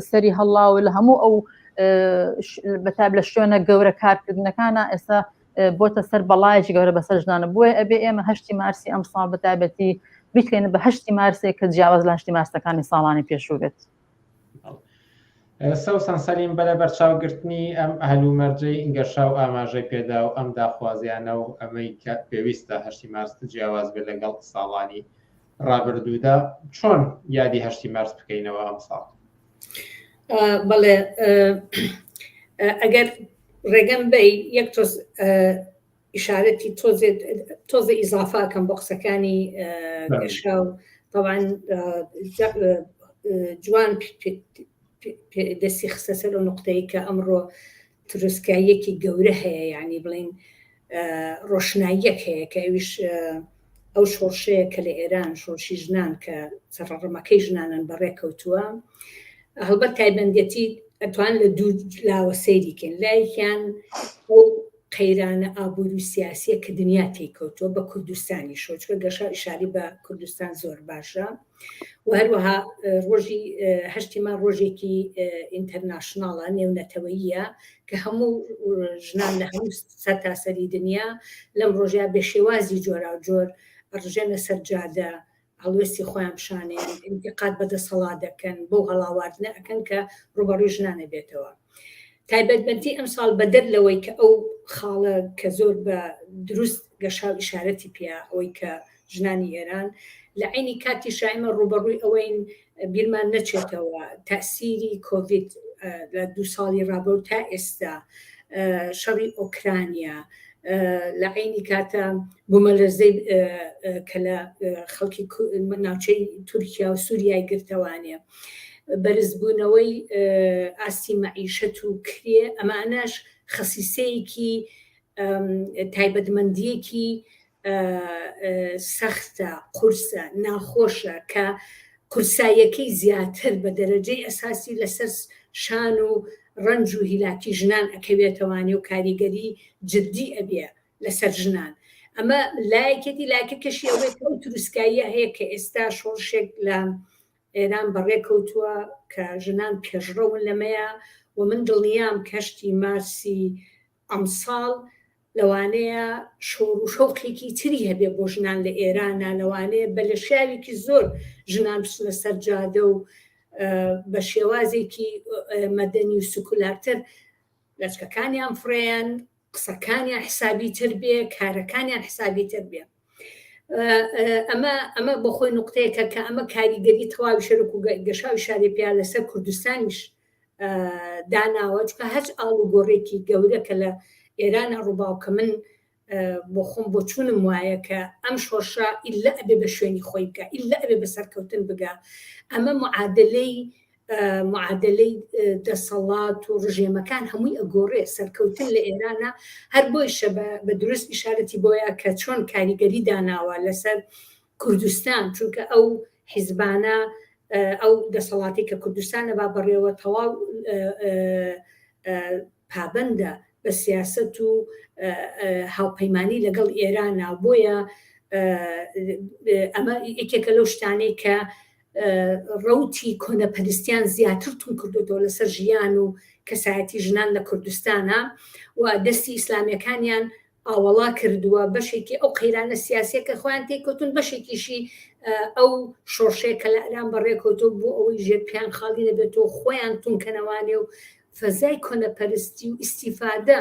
سەری هەڵاوە لە هەموو ئەو بەتاب لە شوێنە گەورە کارکردنەکانە ئێستا بۆتە سەر بەڵایەکی گەورە بەسەر ژنانە بۆیە ئەبێ ئێمە هەشتی مارسی ئەم ساڵ بەتابەتی بیکرێنە بە هەشتی مارسێک کە جیاواز لە هەشتی مارسەکانی ساڵانی پێشوو بێت. سەوسان سەلیم بەرە بەرچاوگرتنی ئەم هەلومەرجەی ئینگەشا و ئاماژەی پێدا و ئەم داخوازیانە و ئەمەی کە پێویستە هەشتی مارست جیاواز بێت لەگەڵ ساڵانی ڕابردوودا چۆن یادی هەشتی مارس بکەینەوە ئەم ساڵ بەڵێ ئەگەر ڕێگەم بەی یەک تۆز ئشارەتی تۆزێت تۆزە ئیزافاکەم بۆ قسەکانی گەشا و تاوان جوان دەستی خستە سەر و نقطەی کە ئەمڕۆ تروسکاییەکی گەورە هەیە یانی بڵێین ڕۆشناییەک هەیە کە ئەویش ئەو شۆڕشەیە کە لە ئێران شۆڕشی ژنان کە سەڕڕمەکەی ژنانن بەڕێ کەوتووە هەڵبەت تایبەندەتی ئەتوان لە دوو لاوە سەیریکەن لایکیان ئەو قەیرانە ئابوور و سیاسیە کە دنیا تێکەوتووە بە کوردستانی شۆچکە گەشا شاری بە کوردستان زۆر باشە و هەروەها ڕۆژی هەشتی مار ڕۆژێکی ئینتەرناشناڵە نێونەتەوەییە کە هەموو ژنان لە هەموو سەرتاسەری دنیا لەم ڕۆژە بە شێوازی جۆرا و جۆر ڕژێنە سەرجادە هەڵوێستی خۆیان پیشانێن انتقاد بە دەسەڵات دەکەن بەو هەڵاواردنە ئەکەن کە ڕوبەڕوی ژنانە بێتەوە تایبەتمەندی ئەمساڵ بەدەر لەوەی کە ئەو خاڵە کە زۆر بە دروست گەشاو ئیشارەتی پیا ئەوەی کە ژنانی ئێران لە عینی کاتی شایمە ڕوبەڕووی ئەوەین بیرمان نەچێتەوە تاسیری کۆڤید لە دو ساڵی ڕابە و تا ئێستا شەڕی ئۆکرانیا لە عینی کاتە بوومەلەرزەی کە لە خەڵکی ناوچەی تورکیا و سووریای گرتەوانێ بەرزبوونەوەی ئاستی مەعیشەت و کرێ، ئەمانەش خەسیسەیەکی تایبەتمەندییەکی سەختە، قورسە، ناخۆشە کە قورساییەکەی زیاتر بە دەرەجەی ئەساسی لەسەر شان و ڕەنج و هیلاکی ژنان ئەکەوێتەوانێ و کاریگەری جدی ئەبێ لەسەر ژنان. ئەمە لایەکێتی، لایەکەکەشی ئەوەیە کە ئەو تروسکاییە هەیە کە ئێستا شۆڕشێک لە ئێران بەڕێکەوتووە کە ژنان پێشڕەون لەمەیا و من دڵنیام کەشتی مارسی ئەمساڵ لەوانەیە شۆڕ و شەوقێکی تری هەبێ بۆ ژنان لە ئێرانە لەوانەیە بە لە شاوێکی زۆر ژنان بچنە سەر جادە و بە شێوازێکی مەدەنی و سکولارتر لەچکەکانیان فڕێن قسەکانیان حسابی تر بێ کارەکانیان حسابی تر بێ ئەمە ئەمە بۆ خۆی نقطەیەکە کە ئەمە کاریگەری تەواوی شەرک و گەشاوی شاری پیا لەسەر کوردستانیش داناوە چکە هەچ ئاڵ و گۆڕێکی گەورە کە لە ئێرانە ڕووباوکە من بۆ خۆم بۆ چوونم وایە کە ئەم شۆرشە ئیللا ئەبێ بە شوێنی خۆی بکە ئیللا ئەبێ بە سەرکەوتن بگا ئەمە معادلەی معادەلەی دەسەڵات و ڕژێمەکان هەمووی ئەگۆڕێ سەرکەوتن لە ئێرانە هەر بۆیشە بە دروست ئیشارەتی بۆیە کە چۆن کاریگەری داناوە لەسەر کوردستان چونکە ئەو حیزبانە ئەو دەسەڵاتی کە کوردستانە با بەڕێوە تەواو پابندە بە سیاست و هاوپەیمانی لەگەڵ ئێرانە بۆیە ئەمە یەکێکە لەو شتانەی کە ڕەوتی کۆنەپەرستیان زیاتر توون کردوێتەوە لەسەر ژیان و کەسایەتی ژنان لە کوردستانە و دەستی ئیسلامیەکانیان ئاوەڵا کردووە بەشێکی ئەو قەیرانە سیاسەکە خۆیان تێکوتن بەشێکیشی ئەو شۆڕشەیە کە لە ئەران بەڕێکەوتۆ بۆ ئەوەی ژێر پیان خاڵی نەبێتەوە خۆیان تونکەنەوانێ و فەزای کۆنەپەرستی و ئیسیفادە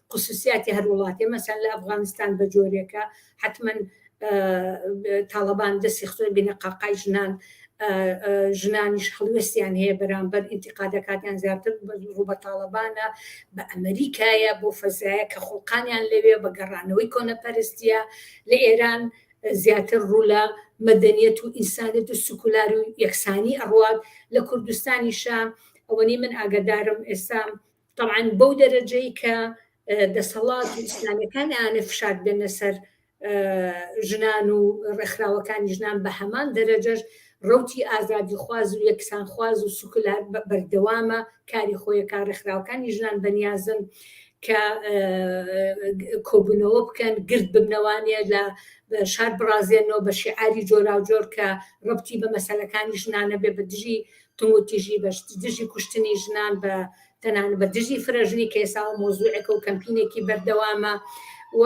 قسوسیاتی هەر وڵاتێ مەسەن لە ئەفغانستان بە جۆرێکە حەتمەن تاڵەبان دەستی خۆی بینە قاقای ژنان ژنانیش هەڵوێستیان هەیە بەرامبەر ئینتیقادەکاتیان زیاتر ڕوو بە تاڵەبانە بە ئەمریکایە بۆ فەزایە کە خۆقانیان لەوێ بە گەڕانەوەی کۆنەپەرستیە لە ئێران زیاتر ڕوو لە مەدەنیەت و ئینسانێت و سکولار و یەکسانی ئەڕوات لە کوردستانیشە ئەوەنی من ئاگدارم ئێستا تەبعەن بەو دەرەجەی کە دەسەڵات و ئیسلامیەکان ئەیانێ فشار بێنە سەر ژنان و ڕێکخراوەکانی ژنان بە هەمان دەرەجەش ڕوتی ئازادی خواز و یەکسان خواز و سوکلار بەردەوامە کاری خۆیەکە ڕێکخراوەکانی ژنان بەنیازن کە کۆبوونەوە بکەن گرد ببنەوانە لە شار بڕازێنەوە بە شیعاری جۆراوجۆر کە ڕبتی بە مەسەلەکانی ژنانە بێ بە دژی توندوتیژی بە دژی کوشتنی ژنان بە تەنان بە دژی فرەژنی کەێساوە مۆزوعێکە و کەمپینێکی بەردەوامە و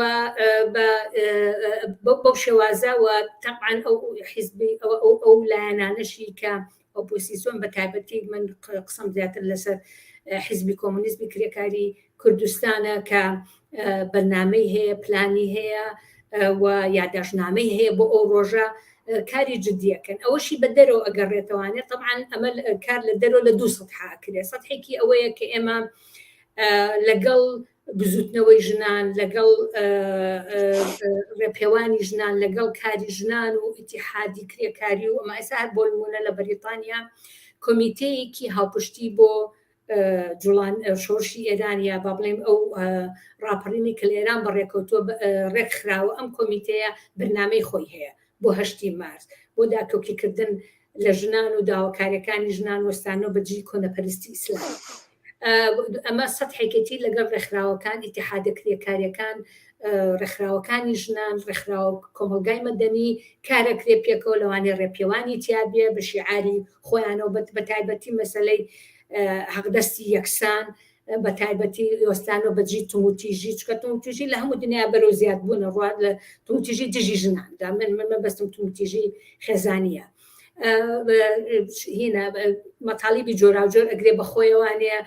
بەو شێوازەوە تەعاان ئەو حیزبی ئەوە ئەو ئەو لایەنانەشی کە ئۆپۆسیسۆن بە تایبەتی من قسم زیاتر لەسەر حیزبی کۆمونیزمی کرێکاری کوردستانە کە بەرنامەی هەیە پلانی هەیە و یاداشنامەی هەیە بۆ ئەو ڕۆژە کاری جددیەکەن ئەوەشی بە دەرەوە ئەگەڕێتەوانێ طبعاان ئەمە کار لە دەرەوە لە دو سەد حاکرێ سەحێکی ئەوەیە کە ئێمە لەگەڵ بزوتنەوەی ژنان لەگەڵ ڕێپێوانی ژنان لەگەڵ کاری ژنان و ئتیحادی کرێکاری و ئەمە ئەسا هەر بۆ نمونە لە بەریتانیا کۆمیتەیەکی هاوپشتی بۆ جوڵان شۆرشی ئێران یا با بڵێم ئەو ڕاپەڕینی کە لە ئێران بەڕێکەوتووە ڕێک خراوە ئەم کۆمیتەیە بەرنمەی خۆی هەیە بۆ هەشتی مارس بۆ داکۆکیکردن لە ژنان و داواکاریەکانی ژنان وەستان و بەجی کۆنەپەرستی ئیسلام ئەمە سەد حێکەتی لەگەڵ ڕێکخراوەکان ئتیحادە کرێکاریەکان ڕێکخراوەکانی ژنان ڕێکخراو کۆمەلگای مەدەنی کارەکرێ پێکەوە لەوانێ ڕێپێوانی تیاابە بە شیعاری خۆیانەوە بەت بە تایبەتی مەسلەی حەقدەستی یەکسان بە تایبەتی ئۆستانۆ بەجی تووتیژی چکە تووتیژی لە هەموو دنیا بەرەو زیاد بوون ڕات لە تووتیژی دژی ژنان دا من من مەبەستم تووتیژی خێزانە هینە مەتاڵیبی جۆراوجۆر ئەگرێ بەخۆیەوانەیە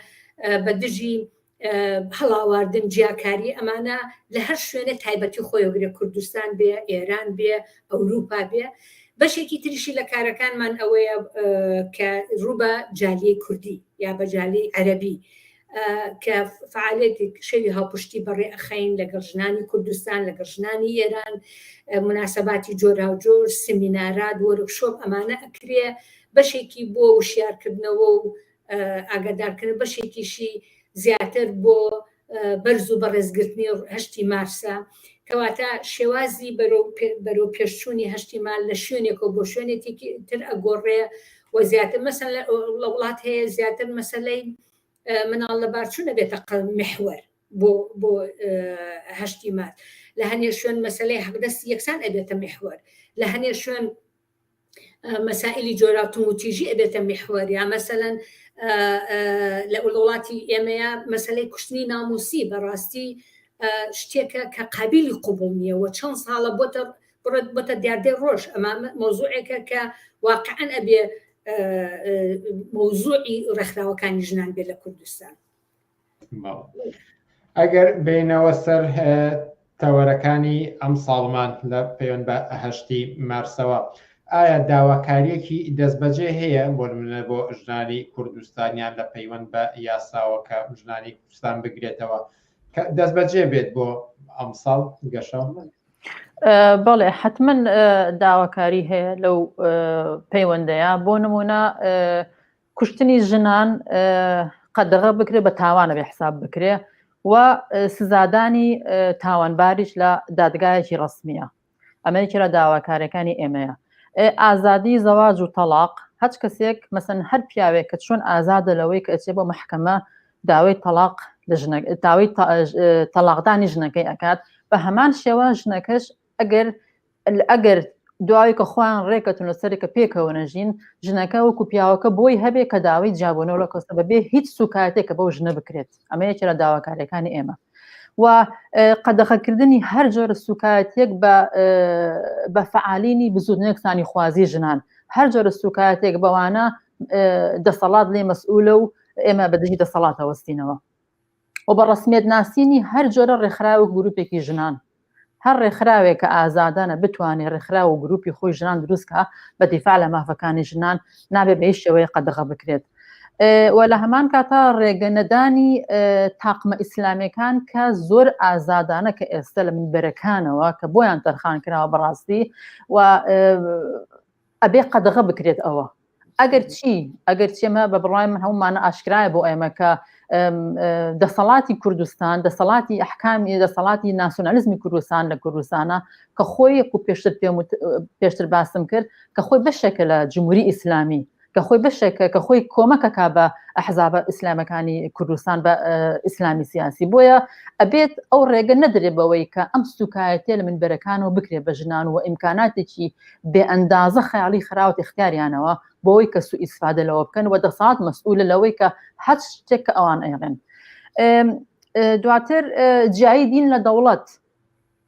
بە دژی هەڵاواردن جیاکاری ئەمانە لە هەر شوێنێ تایبەتی خۆیگرێ کوردستان بێ ئێران بێ ئەوروپا بێ بەشێکی تریشی لە کارەکانمان ئەوەیە کە ڕووبە جالی کوردی یا بە جالی عەربی کە فعالێتی شەوی هاوپشتی بەڕێ ئەخین لەگەڵ ژنانی کوردستان لەگەڵ ژنانی ئێران مناسباتی جۆرا و جۆر سمینارات وەرکشۆپ ئەمانە ئەکرێ بەشێکی بۆ وشیارکردنەوە و ئاگادارکردن بەشێکیشی زیاتر بۆ بەرز و بەڕێز گرتنی هەشتی مارسە، کەواتە شێوازی بەرەو پێش چوونی هەشتی مار لە شوێنێکەوە بۆ شوێنێکی تر ئەگۆڕێ و زیاتر مەسەن لە وڵات هەیە زیاتر مەسەلەی مناڵ لە بارچوو نەبێتە قەڵ محوەر بۆ بۆ هەشتی مار لە هەنێ شوێن مەسلەی حەقدەستی یەکسان ئەبێتە محوەر لە هەنێ شوێن مەسائلی جۆرا توموتیژی ئەبێتە میحوەر یا مەسەەن لە وڵاتی ئێمەیە مەسلەی کوشتنی ناموسی بەڕاستی شتێکە کە قابلی قوبڵ نییە و چەند ساڵە بۆتە بڕێت بەتە دیاردەی ڕۆژ ئەمە مۆزوعێکە کە واقعەن ئەبێ مۆزوعی ڕێکخراوەکانی ژنان بێت لە کوردستان ئەگەر بینەوە سەر تەوەرەکانی ئەم ساڵمان لە پەیوەند بە هەشتی مارسەوە ئایا داواکاریەکی دەستبەجێ هەیە بۆ منە بۆ ژنانی کوردستانیان لە پەیوەند بە یاساوەکە ژنانی کوردستان بگرێتەوە دەست بەجێ بێت بۆ ئەمساڵ گەشە بەڵێ حتمما داواکاری هەیە لەو پەیوەندەیە بۆ نمونە کوشتنی ژنان قەدەغە بکرێ بە تاوانە بێ حساب بکرێ و سزادانی تاوانباریش لە دادگایەکی ڕسمیە ئەمەیەکی لە داواکارەکانی ئێمەیە ئازادی زەواج و تەلاق هەچ کەسێک مەسن هەر پیاوێک کە چۆن ئازادە لەوەی کە ئەچێ بۆ مححکەمە داوای تەلاق داوای تەلاقدانی ژنەکەی ئەکات بە هەمان شێوە ژنەکەش ئەگەر ئەگەر دواوی کە خۆیان ڕێکەتون لە سەرێکە پێکەوە نەژین ژنەکە وەکو پیاوەکە بۆی هەبێ کە داوای جیابوونەوە لە کۆستە بەبێ هیچ سوکایەتێکە بەو ژنە بکرێت ئەمە یەکێ لە داواکارەکانی ئێمە و قەدەخەکردنی هەر جۆرە سوکایەتێک بە فعالینی بزودنێکسانی خوازی ژنان هەر جۆرە سوکایەتێک بەوانە دەسەڵات لێ مەسئولە و ئێمە بەدژی دەسەڵاتەوەستینەوە و بە ڕەسمیەت ناسینی هەر جۆرە ڕێکخراوەک گروپێکی ژنان هەر ڕێکخراوێک کە ئازادانە بتوانێت ڕێکخراوە و گروپی خۆی ژنان دروستکە بە دیفاع لە مافەکانی ژنان نابێ بە هیچ شێوەیە قەدەغە بکرێت و لە هەمان کاتا ڕێگە نەدانی تاقمە ئیسلامەکان کە زۆر ئازادانە کە ئێستا لە منبەرەکانەوە کە بۆیان تەرخان کراوە بەڕاستی و ئەبێ قەدەغە بکرێت ئەوە ئەگەر چی ئەگەر چێمە بە بڕای من هەمومانە ئاشکرایە بۆ ئێمە کە دەسەڵاتی کوردستان دەسەڵاتی ئەحکامی دەسەڵاتی ناسیۆنالیزمی کوردستان لە کوردستانە کە خۆی و پێشتر پێم پێشتر باسم کرد کە خۆی بەشێکە لە جمهوری ئیسلامی کە خۆی بەشێکە کە خۆی کۆمەکە کا بە ئەحزابە ئیسلامەکانی کوردستان بە ئیسلامی سیاسی بۆیە ئەبێت ئەو ڕێگە نەدرێ بەوەی کە ئەم سوکایەتێ لە من بەرەکانەوە بکرێ بە ژنان و ئیمکاناتێکی بێ ئەندازە خەیاڵی خراوەتە ئیختیاریانەوە بۆوەی کە سوو ئیسفادە لەوە بکەن و دەسات مەسئولە لەوەی کە هەچ شتێک کە ئەوان ئەیڵێن دواتر جیایی دین لە دەوڵەت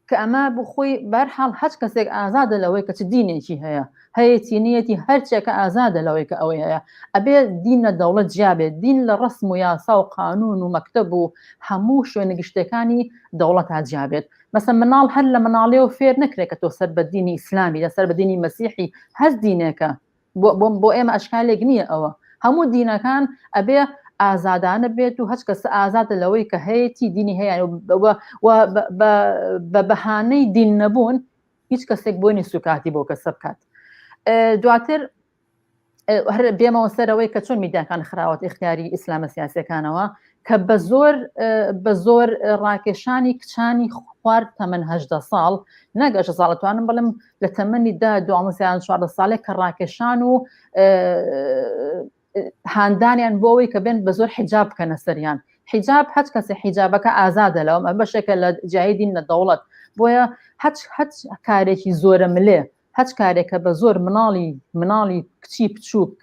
کە ئەمە بخۆی بەرحاڵ هەچ کەسێک ئازادە لەوەی کە چ دینێکی هەیە هەیەی نیەتی هەرچێکە ئازادە لەوەی کە ئەوەی هەیە ئەبێ دین لە دەوڵەت جیابێت دین لە ڕسم و یاسا و قانون و مەکتب و هەموو شوێنە گشتەکانی دەوڵەت تا جیابێت مەسەن مناڵ هەر لە مناڵیەوە فێر نەکرێت کە تۆ سەر بە دینی ئیسلامی لە سەر بە دینی مەسیحی هەر دینێکە بۆ ئێمە ئەشکالێک نییە ئەوە هەموو دینەکان ئەبێ ئازادانە بێت و هەچ کەس ئازادە لەوەی کە هەیەی دینی هەیە بە بەهانەی دین نەبوون هیچ کەسێک بۆنی سوکاتی بۆ کەسە بکات دواتر هەر بێمەوە سەرەوەی کە چۆن میدیاکان خراوەت اختیاری ئیسلامە سیاسەکانەوە کە بە زۆر بە زۆر ڕاکێشانی کچانی خوارد تەمەهدە ساڵ نەگەشە ساڵتوانم بڵم لە تەمەنی دا دوامەسیان چواردە ساڵێک کە ڕاکێشان و هاندانیان بۆەوەی کە بێن بە زۆر حیجاب بکەنە سەریان حیجاب هەچ کەسە حیجابەکە ئازادە لەوە بەشێکە لە جاهدین لە دەوڵەت بۆیە هەچ هەچ کارێکی زۆرە ملێ هەچ کارێکە بە زۆر مناڵی مناڵی کچی بچووک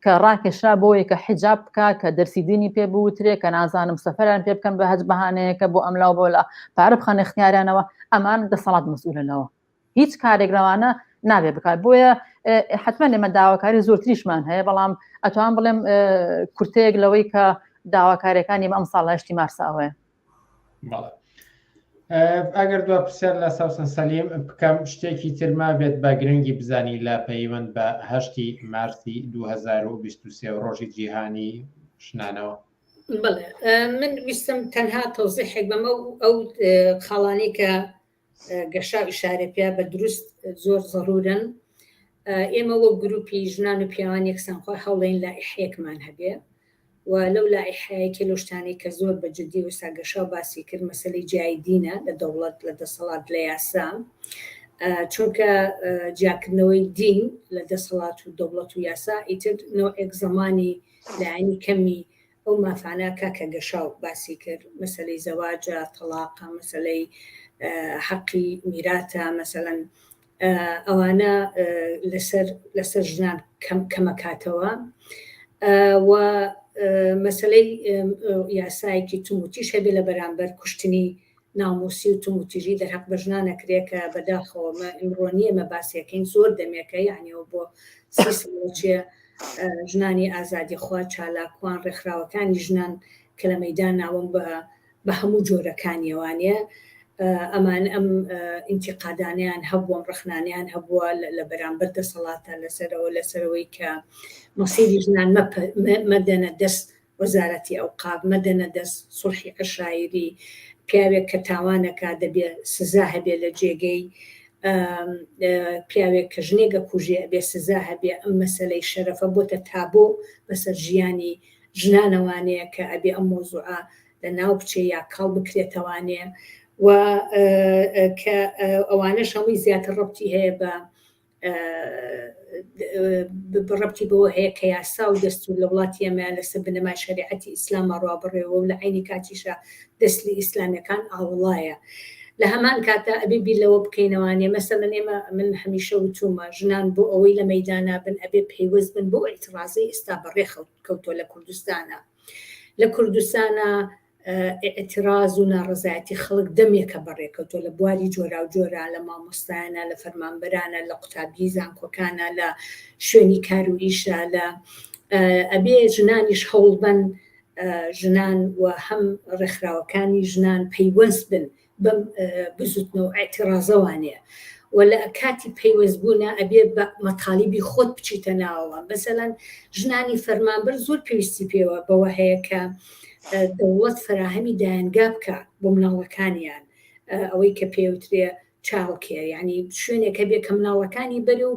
کە ڕاکێشرا بۆیە کە حیجاب بکە کە دەرسی دینی پێ بوترێ کە نازانم سەفەران پێ بکەم بە هەج بەهانەیەکە بۆ ئەملا و بۆلا پارە بخەن اختیارانەوە ئەمان دەسەڵات مسئولەوە هیچ کارێک لەوانە نابێ بکات بۆیە حتمما لێمە داواکاری زۆرتریشمان هەیە بەڵام ئەتوان بڵێم کورتەیەک لەوەی کە داواکارەکانی ئەم ساڵ هەشتی مارساوەیە ئەگەر دو پرسیار لە ساوسن سەلیم بکەم شتێکی ترما بێت بە گرنگی بزانی لە پەیوەند بە هەشتی مارسی 2023 ڕۆژی جیهانی ژنانەوە من ویستم تەنها تۆزیحێک بەمە ئەو خاڵانی کە گەشاو ئیشارە پیا بە دروست زۆر زەرورن ئێمە وەک گروپی ژنان و پیاوان یەکسانخوا هەوڵین لائحەیەکمان هەبێ و لەو لائحەیەکی لەو شتانەی کە زۆر بە جدی وسا گەشاو باسی کرد مەسەلەی جیایی دینە لە دەوڵەت لە دەسەڵات لە یاسا چونکە جیاکردنەوەی دین لە دەسەڵات و دەوڵەت و یاسا ئیتر نەوەک زمانی لایانی کەمی ئەو مافانە کاکە گەشاو باسی کرد مەسەلەی زەواجە تەڵاقە مەسەلەی حەقی میراتە مەسەلەن ئەوانە لەسەر لەسەر ژنان کەم کەمەکاتەوە و مەسلەی یاسایەکی توموتیش هەبێ لە بەرامبەر کوشتنی ناموسی و توند وتیژی دەرهەق بە ژنان ئەکرێ کە بە داخەوە مە ئمڕۆ نیە ئمە باسی ئەکەین زۆر دەمێکە یەعنی ئەوە بۆ سی ساڵە چیە ژنانی ئازادی خوا چالاکوان ڕێکخراوەکانی ژنان کە لە مەیدان ناوم بە بە هەموو جۆرەکانی وانە ئەمان ئەم ئینتیقادانیان هەبووم ڕخنانیان هەبووە لە بەرامبەر دەسەڵاتە لەسەرەوە لەسەرەوەی کە مەسیری ژنان مەدەنە دەست وەزارەتی ئەوقاف مەدەنە دەست سوڵحی عەشایری پیاوێک کە تاوانەکا دەبێ سزا هەبێ لە جێگەی پیاوێک کە ژنێک ئەکوژێ ئەبێ سزا هەبێ ئەم مەسەلەی شەرەفە بۆتە تابۆ بەسەر ژیانی ژنانەوانەیە کە ئەبێ ئەم مەوزوعە لە ناو بچێ یا کاڵ بکرێتەوانێ و کە ئەوانەش هەمووی زیاتر ڕەبتی هەیە بە رەبتی بەوە هەیە کە یاسا و دەستور لە وڵاتی ئێمە لە سەر بنەمای شەریعەتی ئیسلامە ڕا بڕێوە و لە عەینی کاتیشا دەسلی ئیسلامیەکان ئاوڵایە. لە هەمان کاتدا ئەبێ بیر لەوە بکەینەوانێ مەسەلەن ئێمە من هەمیشە وتومە ژنان بۆ ئەوەی لە مەیدانا بن ئەبێ پەیوەست بن بەو ئیتڕازەی ئیستا بە ڕێ خەوت کەوتوە لە کوردستانا لە کوردستانا ئیعتراز و ناڕەزایەتی خەڵک دەمێکە بەڕێکەوتووە لە بواری جۆراوجۆرە، لە مامۆستایانە، لە فەرمانبەرانە، لە قوتابیی زانکۆکانە، لە شوێنی کار و ئیشە، لە ئەبێ ژنانیش هەوڵبەن ژنان و هەم ڕێکخراوەکانی ژنان پەیوەست بن بەم بزوتنە و ئەعتیڕازە وانەیە و لە کاتی پەیوەست بوونە ئەبێ بە مەتالیبی خۆت بچیتە ناوەوە بەسەلەن ژنانی فەرمانبەر زۆر پێویستی پێوە بەوە هەیە کە دەوڵەت فراهەمی دایەنگا بکە بۆ مناڵەکانیان ئەوەی کە پێوترێ چاوکێ ینی شوێنێکە بێ کە مناڵەکانی بەرە و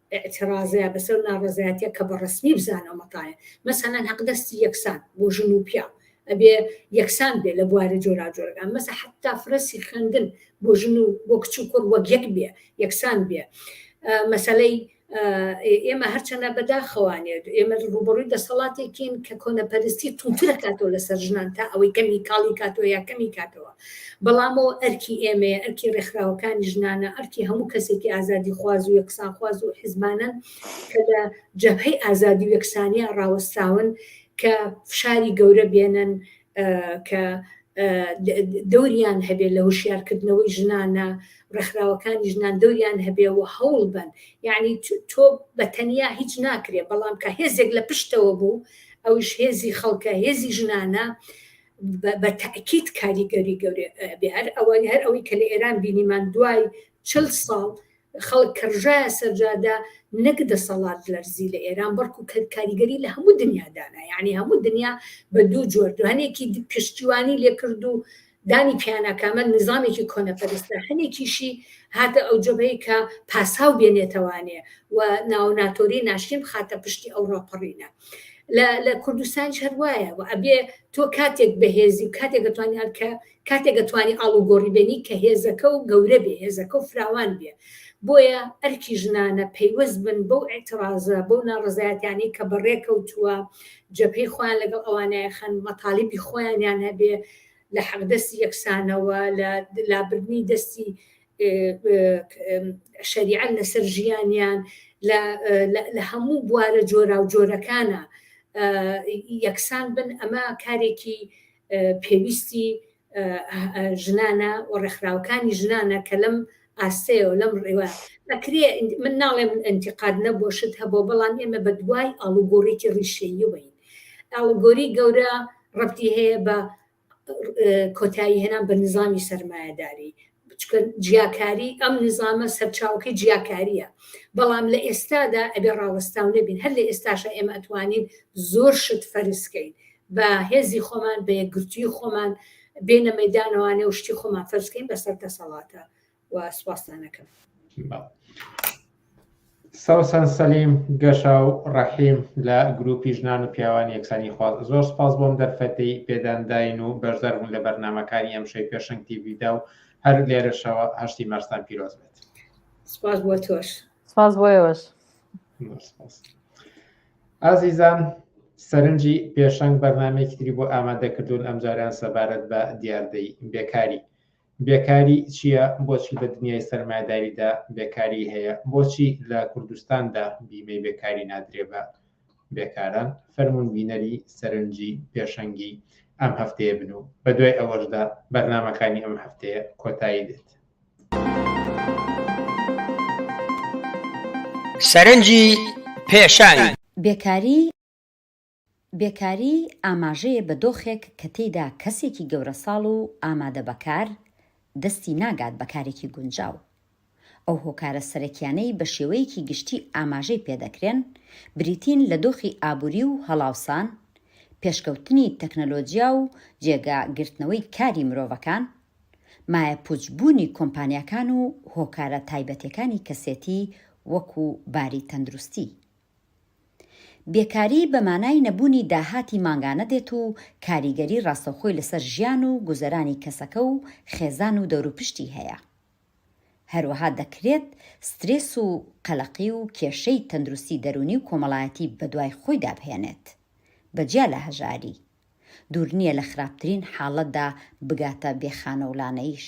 ئیعترازە بەسەر ناڕەزایەتیە کە بەڕەسمی بزانە مەتایە مەسەلەن هەق دەستی یەکسان بۆ ژن و پیاو ئەبێ یەکسان بێ لە بوارە جۆراجۆرەکان مەسە حتا فرەسی خوێندن بۆ ژن و بۆ کچ و کوڕ وەک یەک بێ یەکسان بێ مەسەلەی ئێمە هەرچەنە بەداخەوانێت ئێمە ڕوبڕووی دەسەڵاتێکین کە کۆنەپەرستی تووترە کاتەوە لەسەر ژنان تا ئەوەی کەمی کاڵی کاتەوە یا کەمی کاتەوە بەڵام ئەوە ئەرکی ئێمەیە، ئەرکی ڕێکخراوەکانی ژنانە، ئەرکی هەموو کەسێکی ئازادیخواز و یەکسانخواز و حیزبانەن کە لە جەبهەی ئازادی و یەکسانییە ڕاوەستاون کە فشاری گەورە بێنن کە دەوریان هەبێت لە هوشیارکردنەوەی ژنانە ڕێکخراوەکانی ژنان دەوریان هەبێ و هەوڵ بن یعنی تۆ بە تەنیا هیچ ناکرێت بەڵام کە هێزێک لە پشتەوە بوو ئەوش هێزی خەڵکە هێزی ژنانە بە تاکیت کاریگەری گەورێ بێ هەر ئەوە هەر ئەوەی کە لە ئێران بینیمان دوای چل ساڵ خەڵک کەڕژایە سەرجادا نەک دەسەڵات لەرزی لە ئێران بەڵکو کە کاریگەری لە هەموو دنیادانا یعنی هەموو دنیا بە دوو جۆر دوانێکی پشتیوانی لێکرد و دانی پیانەکەمە نظامێکی کۆنەپەرستە هەنێکیشی هاتە ئەو جبەی کە پاساو بێنێتەوانێ و ناوناتۆری ناشتین بخاتە پشتی ئەو ڕاپەڕینە لە کوردستانش هەر وایە و ئەبێ تۆ کاتێک بەهێزی و کاتێک دەتوانانی هەرکە کاتێک دەتوانانی ئاڵوگۆڕی بێنی کە هێزەکە و گەورە بێ هێزەکە و فراوان بێ بۆیە ئەرکی ژنانە پەیوەست بن بەو ئەترازە بەو ناڕزایەتیانی کە بەڕێکەوتووە جەپەی خۆیان لەگەڵ ئەوانەیە خەن مەتاالبی خۆیانیان هەبێ لە حەقدەستی یەکسانەوە لە لابردنی دەستی شەریعەت لەسەر ژیانیان لە هەموو بوارە جۆرا و جۆرەکانە یەکسان بن ئەمە کارێکی پێویستی ژنانە و ڕێکخراوەکانی ژنانە کە لەم ئاستەیە و لەم ڕێوە ئەکرێ من ناڵێم ئەنتیقاد نەبۆشت هەبوو بەڵام ئێمە بە دوای ئاڵوگۆڕێکی ڕیشەییەوەین ئاڵگۆری گەورە ڕەتی هەیە بە کۆتایی هێنان بە نظامی سەرمایەداری چکە جیاکاری ئەم نظامە سەرچاوکەی جیاکاریە بەڵام لە ئێستادا ئەبێ ڕاوەستاو نەبین هەر لە ئێستاشە ئێمە ئەتوانین زۆر شت فەرزکەین بە هێزی خۆمان بە یەکگرتوی خۆمان بێنە مەدانەوانێ و شتی خۆمان فەرزکەین بەسەر دەسەڵاتە و سوپاستان ئەکەم. سەوسەن سەلیم گەشا و ڕەحیم لە گروپی ژنان و پیاوانی یەکسانی خواز زۆر سپاس بۆم دەرفەتی پێدانداین و بەشدار بوون لە بەرنمەکانی ئەم شەی پێشنگ تیویدا و هەر لێرەشەوە هەشتی مەرستان پیرۆز بێت سپاس بۆ تۆش سپاس بۆیەوەش ئازیزان سەرنجی پێشنگ بەرنمەیەکی تری بۆ ئامادە کردوون ئەمجاریان سەبارەت بە دیاردەی بێکاری بێکاری چیە بۆچی لە دنیای سەرمایەداریدا بێکاری هەیە بۆچی لە کوردستاندا بیمەی بێکاری نادرێ بە بێکاران فەرموون بینەری سەرنجی پێشەنگی ئەم هەفتەیە بن و بە دوای ئەوەشدا بەرنمەکانی ئەم هەفتەیە کۆتایی دێت سەرنجی پێشانی بێکاری بێکاری ئاماژەیە بە دۆخێک کە تێیدا کەسێکی گەورەساڵ و ئامادە بە کار دەستی ناگات بە کارێکی گونجاو. ئەو هۆکارە سەرەکیانەی بە شێوەیەکی گشتی ئاماژەی پێ دەکرێن بریتین لە دۆخی ئابووری و هەڵاوسان، پێشکەوتنی تەکنەلۆجیا و جێگا گرتنەوەی کاری مرۆڤەکان، مایەپووچ بوونی کۆمپانیاکان و هۆکارە تایبەتێکانی کەسێتی وەکوو باری تەندروستی. بێکاری بە مانای نەبوونی داهاتی مانگانە دێت و کاریگەری ڕاستەوخۆی لەسەر ژیان و گوزەرانی کەسەکە و خێزان و دەوروپشتی هەیە. هەروەها دەکرێت سترێس و قەلەقی و کێشەی تەندروستی دەروونی و کۆمەڵایەتی بەدوای خۆیدا بهێنێت، بە جیا لە هەژاری. دوور نییە لە خراپترین حاڵەتدا بگاتە بێخانەولانەیش.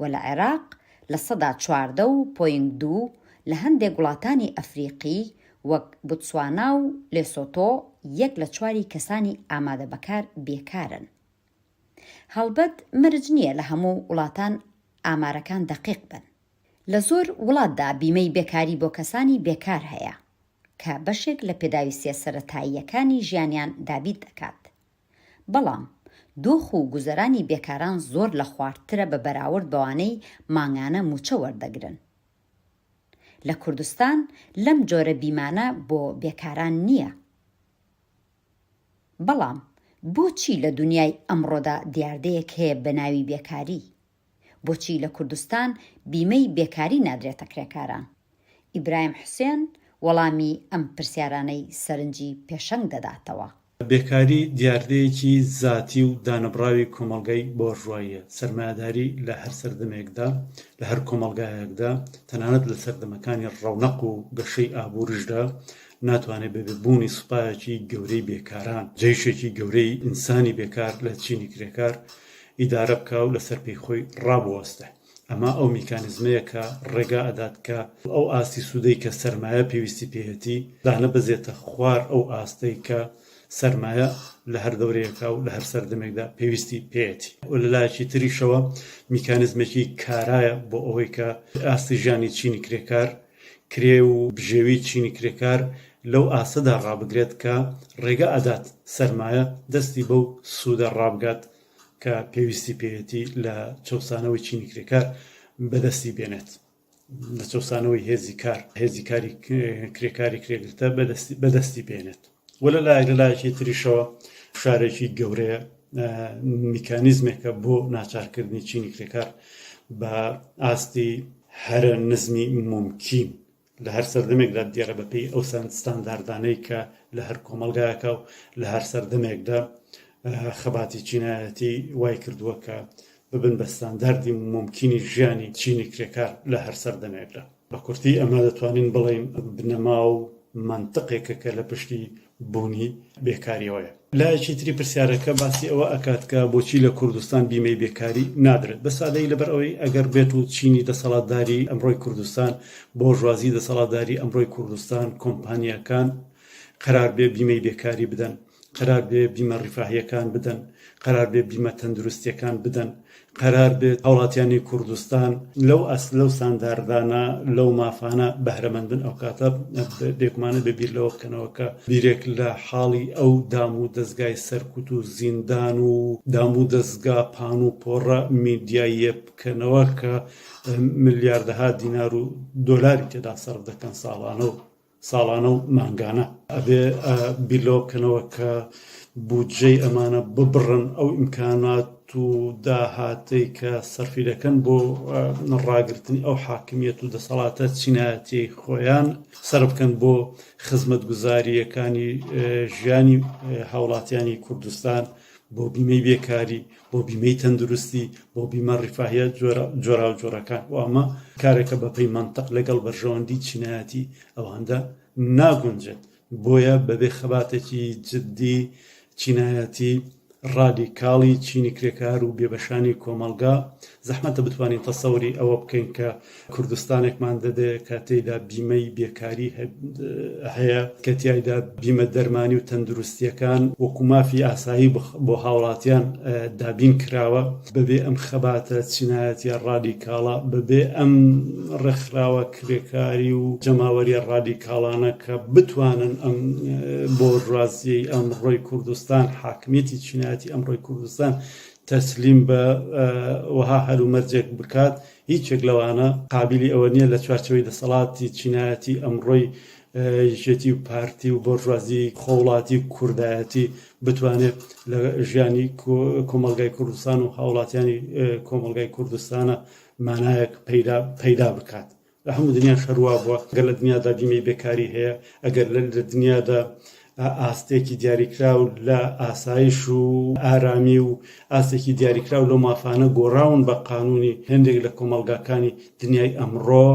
و لە عێراق لە سەدا چواردە و پۆینت دوو لە هەندێک وڵاتانی ئەفریقی وەک بوتسوانا و لێسۆتۆ یەک لە چواری کەسانی ئامادە بەکار بێکارن. هەڵبەت مەرج نییە لە هەموو وڵاتان ئامارەکان دەقیق بن. لە زۆر وڵاتدا بیمەی بێکاری بۆ کەسانی بێکار هەیە، کە بەشێک لە پێداویستییە سەرەتاییەکانی ژیانیان دابین دەکات. بەڵام دۆخ و گوزەرانی بێکاران زۆر لە خواردترە بە بەراورد بەوانەی مانگانە مووچە وەردەگرن. لە کوردستان لەم جۆرە بیمانە بۆ بێکاران نییە. بەڵام بۆچی لە دونیای ئەمڕۆدا دیاردەیەک هەیە بە ناوی بێکاری؟ بۆچی لە کوردستان بیمەی بێکاری نادرێتە کرێکاران؟ ئیبراهیم حوسێن وەڵامی ئەم پرسیارانەی سەرنجی پێشەنگ دەداتەوە. بێکاری دیاردەیەکی زاتی و دانەبڕاوی کۆمەڵگای بۆرژواییە، سەرمایەداری لە هەر سەردەمێکدا، لە هەر کۆمەڵگایەکدا، تەنانەت لە سەردەمەکانی ڕەونەق و گەشەی ئابووریشدا، ناتوانێت بەبێ بوونی سوپایەکی گەورەی بێکاران، جەیشێکی گەورەی ئینسانی بێکار لە چینی کرێکار، ئیدارە بکا و لەسەر پێی خۆی ڕابوەستێ. ئەمە ئەو میکانیزمەیە کە ڕێگا ئەدات کە ئەو ئاستی سوودەی کە سەرمایە پێویستی پێیەتی دانەبەزێتە خوار ئەو ئاستەی کە سەرمایە لە هەر دەورەیەکا و لە هەر سەردەمێکدا پێویستی پێیەتی و لە لایەکی تریشەوە میکانیزمێکی کارایە بۆ ئەوەی کە ئاستی ژیانی چینی کرێکار کرێ و بژێوی چینی کرێکار لەو ئاستەدا ڕابگرێت کە ڕێگە ئەدات سەرمایە دەستی بەو سوودە ڕابگات کە پێویستی پێیەتی لە چەوسانەوەی چینی کرێکار بەدەستی بێنێت لە چەوسانەوەی هێزی کار هێزی کاری کرێکاری کرێگرتە بەدەستی بەدەستی بێنێت. وە لە لایەک لە لایەکی تریشەوە فشارێکی گەورەیە میکانیزمێکە بۆ ناچارکردنی چینی کرێکار بە ئاستی هەرە نزمی ممکین لە هەر سەردەمێکدا دیێرە بەپی ئەو سند ستانداردانەی کە لە هەر کۆمەلگایەکە و لە هەر سەردەمێکدا خەباتی چینایەتی وای کردووە کە ببن بە ستانداردی ممکنی ژیانی چینی کرێکار لە هەر سەردەمێکدا بە کورتی ئەمە دەتوانین بڵێین بنەما و مەنتقێکە کە لە پشتی بوونی بێکاریەوەیە. لایەکی تری پرسیارەکە باسی ئەوە ئەکات کە بۆچی لە کوردستان بیمەی بێکاری نادرێت؟ بە سادەیی لەبەر ئەوەی ئەگەر بێت و چینی دەسەڵاتداری ئەمڕۆی کوردستان، بۆرژوازی دەسەڵاتداری ئەمڕۆی کوردستان، کۆمپانیاکان قەرار بێ بیمەی بێکاری بدەن، قەرار بێ بیمە ڕیفاهیەکان بدەن، قەرار بێ بیمە تەندروستیەکان بدەن، قەرار بێ هاوڵاتیانی کوردستان لەو ئەس لەو سانداردانە لەو مافانە بەهرەمەند بن ئەو کاتە بێگومانە بێ بیر لەوە بکەنەوە کە بیرێک لە حاڵی ئەو دام و دەزگای سەرکوت و زیندان و دام و دەزگا پان و پۆڕە میدیاییە بکەنەوە کە ملیاردەها دینار و دۆلاری تێدا سەرف دەکەن ساڵانە و ساڵانە و مانگانە ئەبێ بیر لەوە بکەنەوە کە بودجەی ئەمانە ببڕن ئەو ئیمکانات و داهاتەی کە سەرفی دەکەن بۆ ڕاگرتنی ئەو حاکمیت و دەسەڵاتە چینایەتی خۆیان سەر بکەن بۆ خزمەت گوزاریەکانی ژیانی هاوڵاتیانی کوردستان بۆ بیمەی بێکاری بۆ بیمەی تەندروستی بۆ بیمە ڕیفاهە جۆراوجۆرەکان و ئەمە کارێکە بەپی منطق لەگەڵ بەرژەوەندی چینایەتی ئەواندا ناگونجێت بۆیە بەبێ خەباتێکی جددی چینایەتی ڕادیکاڵی چینی کرێکار و بێبەشانی کۆمەلگا زەحمەتە بتوانین تەسەوری ئەوە بکەین کە کوردستانێکمان دەبێ کە تێیدا بیمەی بێکاری هەیە کە تایدا بیمە دەرمانی و تەندروستیەکان وەکو مافی ئاسایی بۆ هاوڵاتیان دابین کراوە بەبێ ئەم خەباتە چینایەتە ڕادیکاڵە بەبێ ئەم ڕێکخراوە کرێکاری و جەماوەری ڕادیکاڵانە کە بتوانن ئەم بۆ ڕازیی ئەم ڕۆی کوردستان حاکمیەتی چینایەتی ئەم ڕۆی کوردستان تەسلیم بە وەها هەرومەرجێک بکات هیچێک لەوانە قابیلی ئەوە نییە لە چوارچەوەی دەسەڵاتی چینایەتی ئەمڕۆی یەکێتی و پارتی و بۆرژوازی خۆڵاتی کوردایەتی بتوانێت لە ژیانی کۆمەلگای کوردستان و هاوڵاتیانی کۆمەلگای کوردستانە مانایەک پەیدا بکات لە هەموو دنیا شەروا بووە گەر لە دنیادا بیمەی بێکاری هەیە ئەگەر لە دنیادا بە ئاستێکی دیاریکراو لە ئاسایش و ئارامی و ئاستێکی دیاریکراو لەو مافانە گۆڕاون بە قانونی هێندێک لە کۆمەڵگاکانی دنیای ئەمڕۆ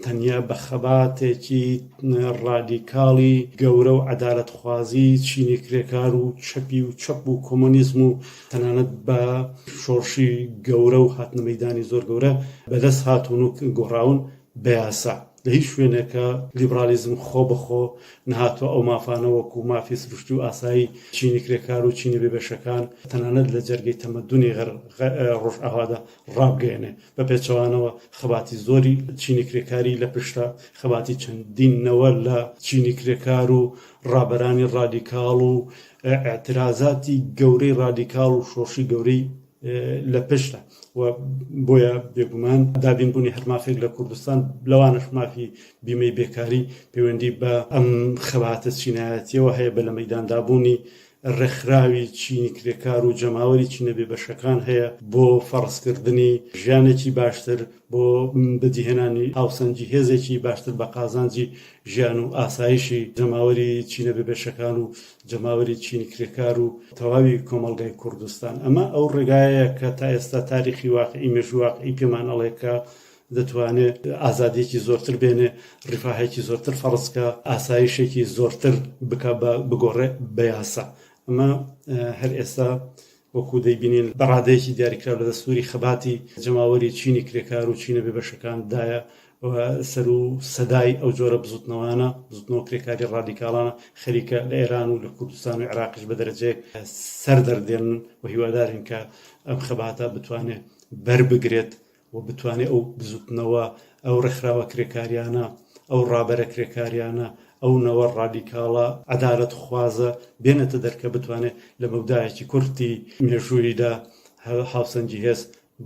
تەنیا بە خەباتێکی ڕادیکاڵی گەورە و عەدالەتخوازی چینی کرێکار و چەپی و چەپ و کۆمۆنیزم و تەنانەت بە شۆڕشی گەورە و هاتنە مەدانی زۆر گەورە بەدەست هاتون و گۆڕاون بە یاسا لە هیچ شوێنێکا لیبرالیزم خۆ بە خۆ نەهاتوە ئەو مافانە وەکو مافی سروشتی و ئاسایی چینی کرێکار و چینی بێبەشەکان تەنانەت لە جەرگەی تەمەدونی غەر ڕۆژئاوادا ڕابگەیەنێ بە پێچەوانەوە خەباتی زۆری چینی کرێکاری لە پشتە خەباتی چەندین نەوە لە چینی کرێکار و ڕابەرانی ڕادیکاڵ و ئاعترازاتی گەورەی ڕادیکاڵ و شۆڕشی گەورەی لە پشتە و بۆیە بێگومان دابینبوونی هەر مافێک لە کوردستان لەوانش مافی بیمەی بێکاری پەیوەندی بە ئەم خەباتە چینایەتیەوە هەیە بە لە مەداندابوونی ڕێکخراوی چینی کرێکار و جەماوەری چینەبێ بەشەکان هەیە بۆ فەڕستکردنی ژیانێکی باشتر بۆ بەدیهێنانی هاوسەنگی هێزێکی باشتر بە قازانجی ژیان و ئاسایشی جەماوەری چینەبێ بەشەکان و جەماوەری چینی کرێکار و تەواوی کۆمەڵگای کوردستان ئەمە ئەو ڕێگایە کە تا ئێستا تاریخی واقعی مێژوواقعی پێمان ئەڵێ کە دەتوانێت ئازادیەکی زۆرتر بێنێ ڕفاهێکی زۆرتر فەڕستکە ئاسایشێکی زۆرتر بک بە بگۆڕێ بە یاسا ئەمە هەر ئێستا وەکو دەیبینین بە ڕادەیەکی دیاریکراو لە دەستووری خەباتی جەماوەری چینی کرێکار و چینە بێبەشەکان دایە و سەر و سەدای ئەو جۆرە بزوتنەوانە بزوتنەوە کرێکاری ڕادیکاڵانە خەریکە لە ئێران و لە کوردستان و عێراقیش بە دەرەجەیەک سەر دەردێن و هیوادارین کە ئەم خەباتە بتوانێت بەربگرێت و بتوانێت ئەو بزوتنەوە، ئەو ڕێکخراوە کرێکاریانە، ئەو ڕابەرە کرێکاریانە، ئەو نەوە ڕادیکاڵە عەدالەتخوازە بێنێتە دەر کە بتوانێت لە مەودایەکی کورتی مێژووییدا هاوسەنگی هێز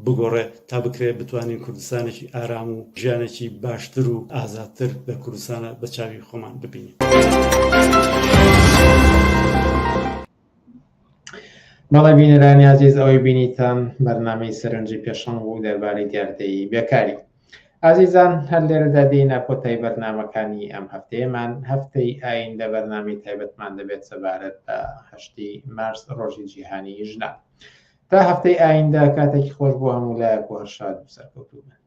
بگۆڕێت تا بکرێت بتوانین کوردستانێکی ئارام و ژیانێکی باشتر و ئازادتر لە کوردستانە بە چاوی خۆمان ببینین. بەڵێ بینەرانی ئازیز ئەوەی بینیتان بەرنمەی سەرنجی پێشەنگ بوو دەربارەی دیاردەی بێکاری ئازیزان هەر لێرەدا دێنە کۆتای بەرنمەکانی ئەم هەفتەیەمان هەفتەی ئاین لە بەرنامی تایبەتمان دەبێت سەبارەت بە هەشتی مارس ڕۆژی جیهانی ژنا تا هەفتەی ئایندە کاتێکی خۆش بۆ هەموو لایەک و هەر شاد و سەرکەوتوو بن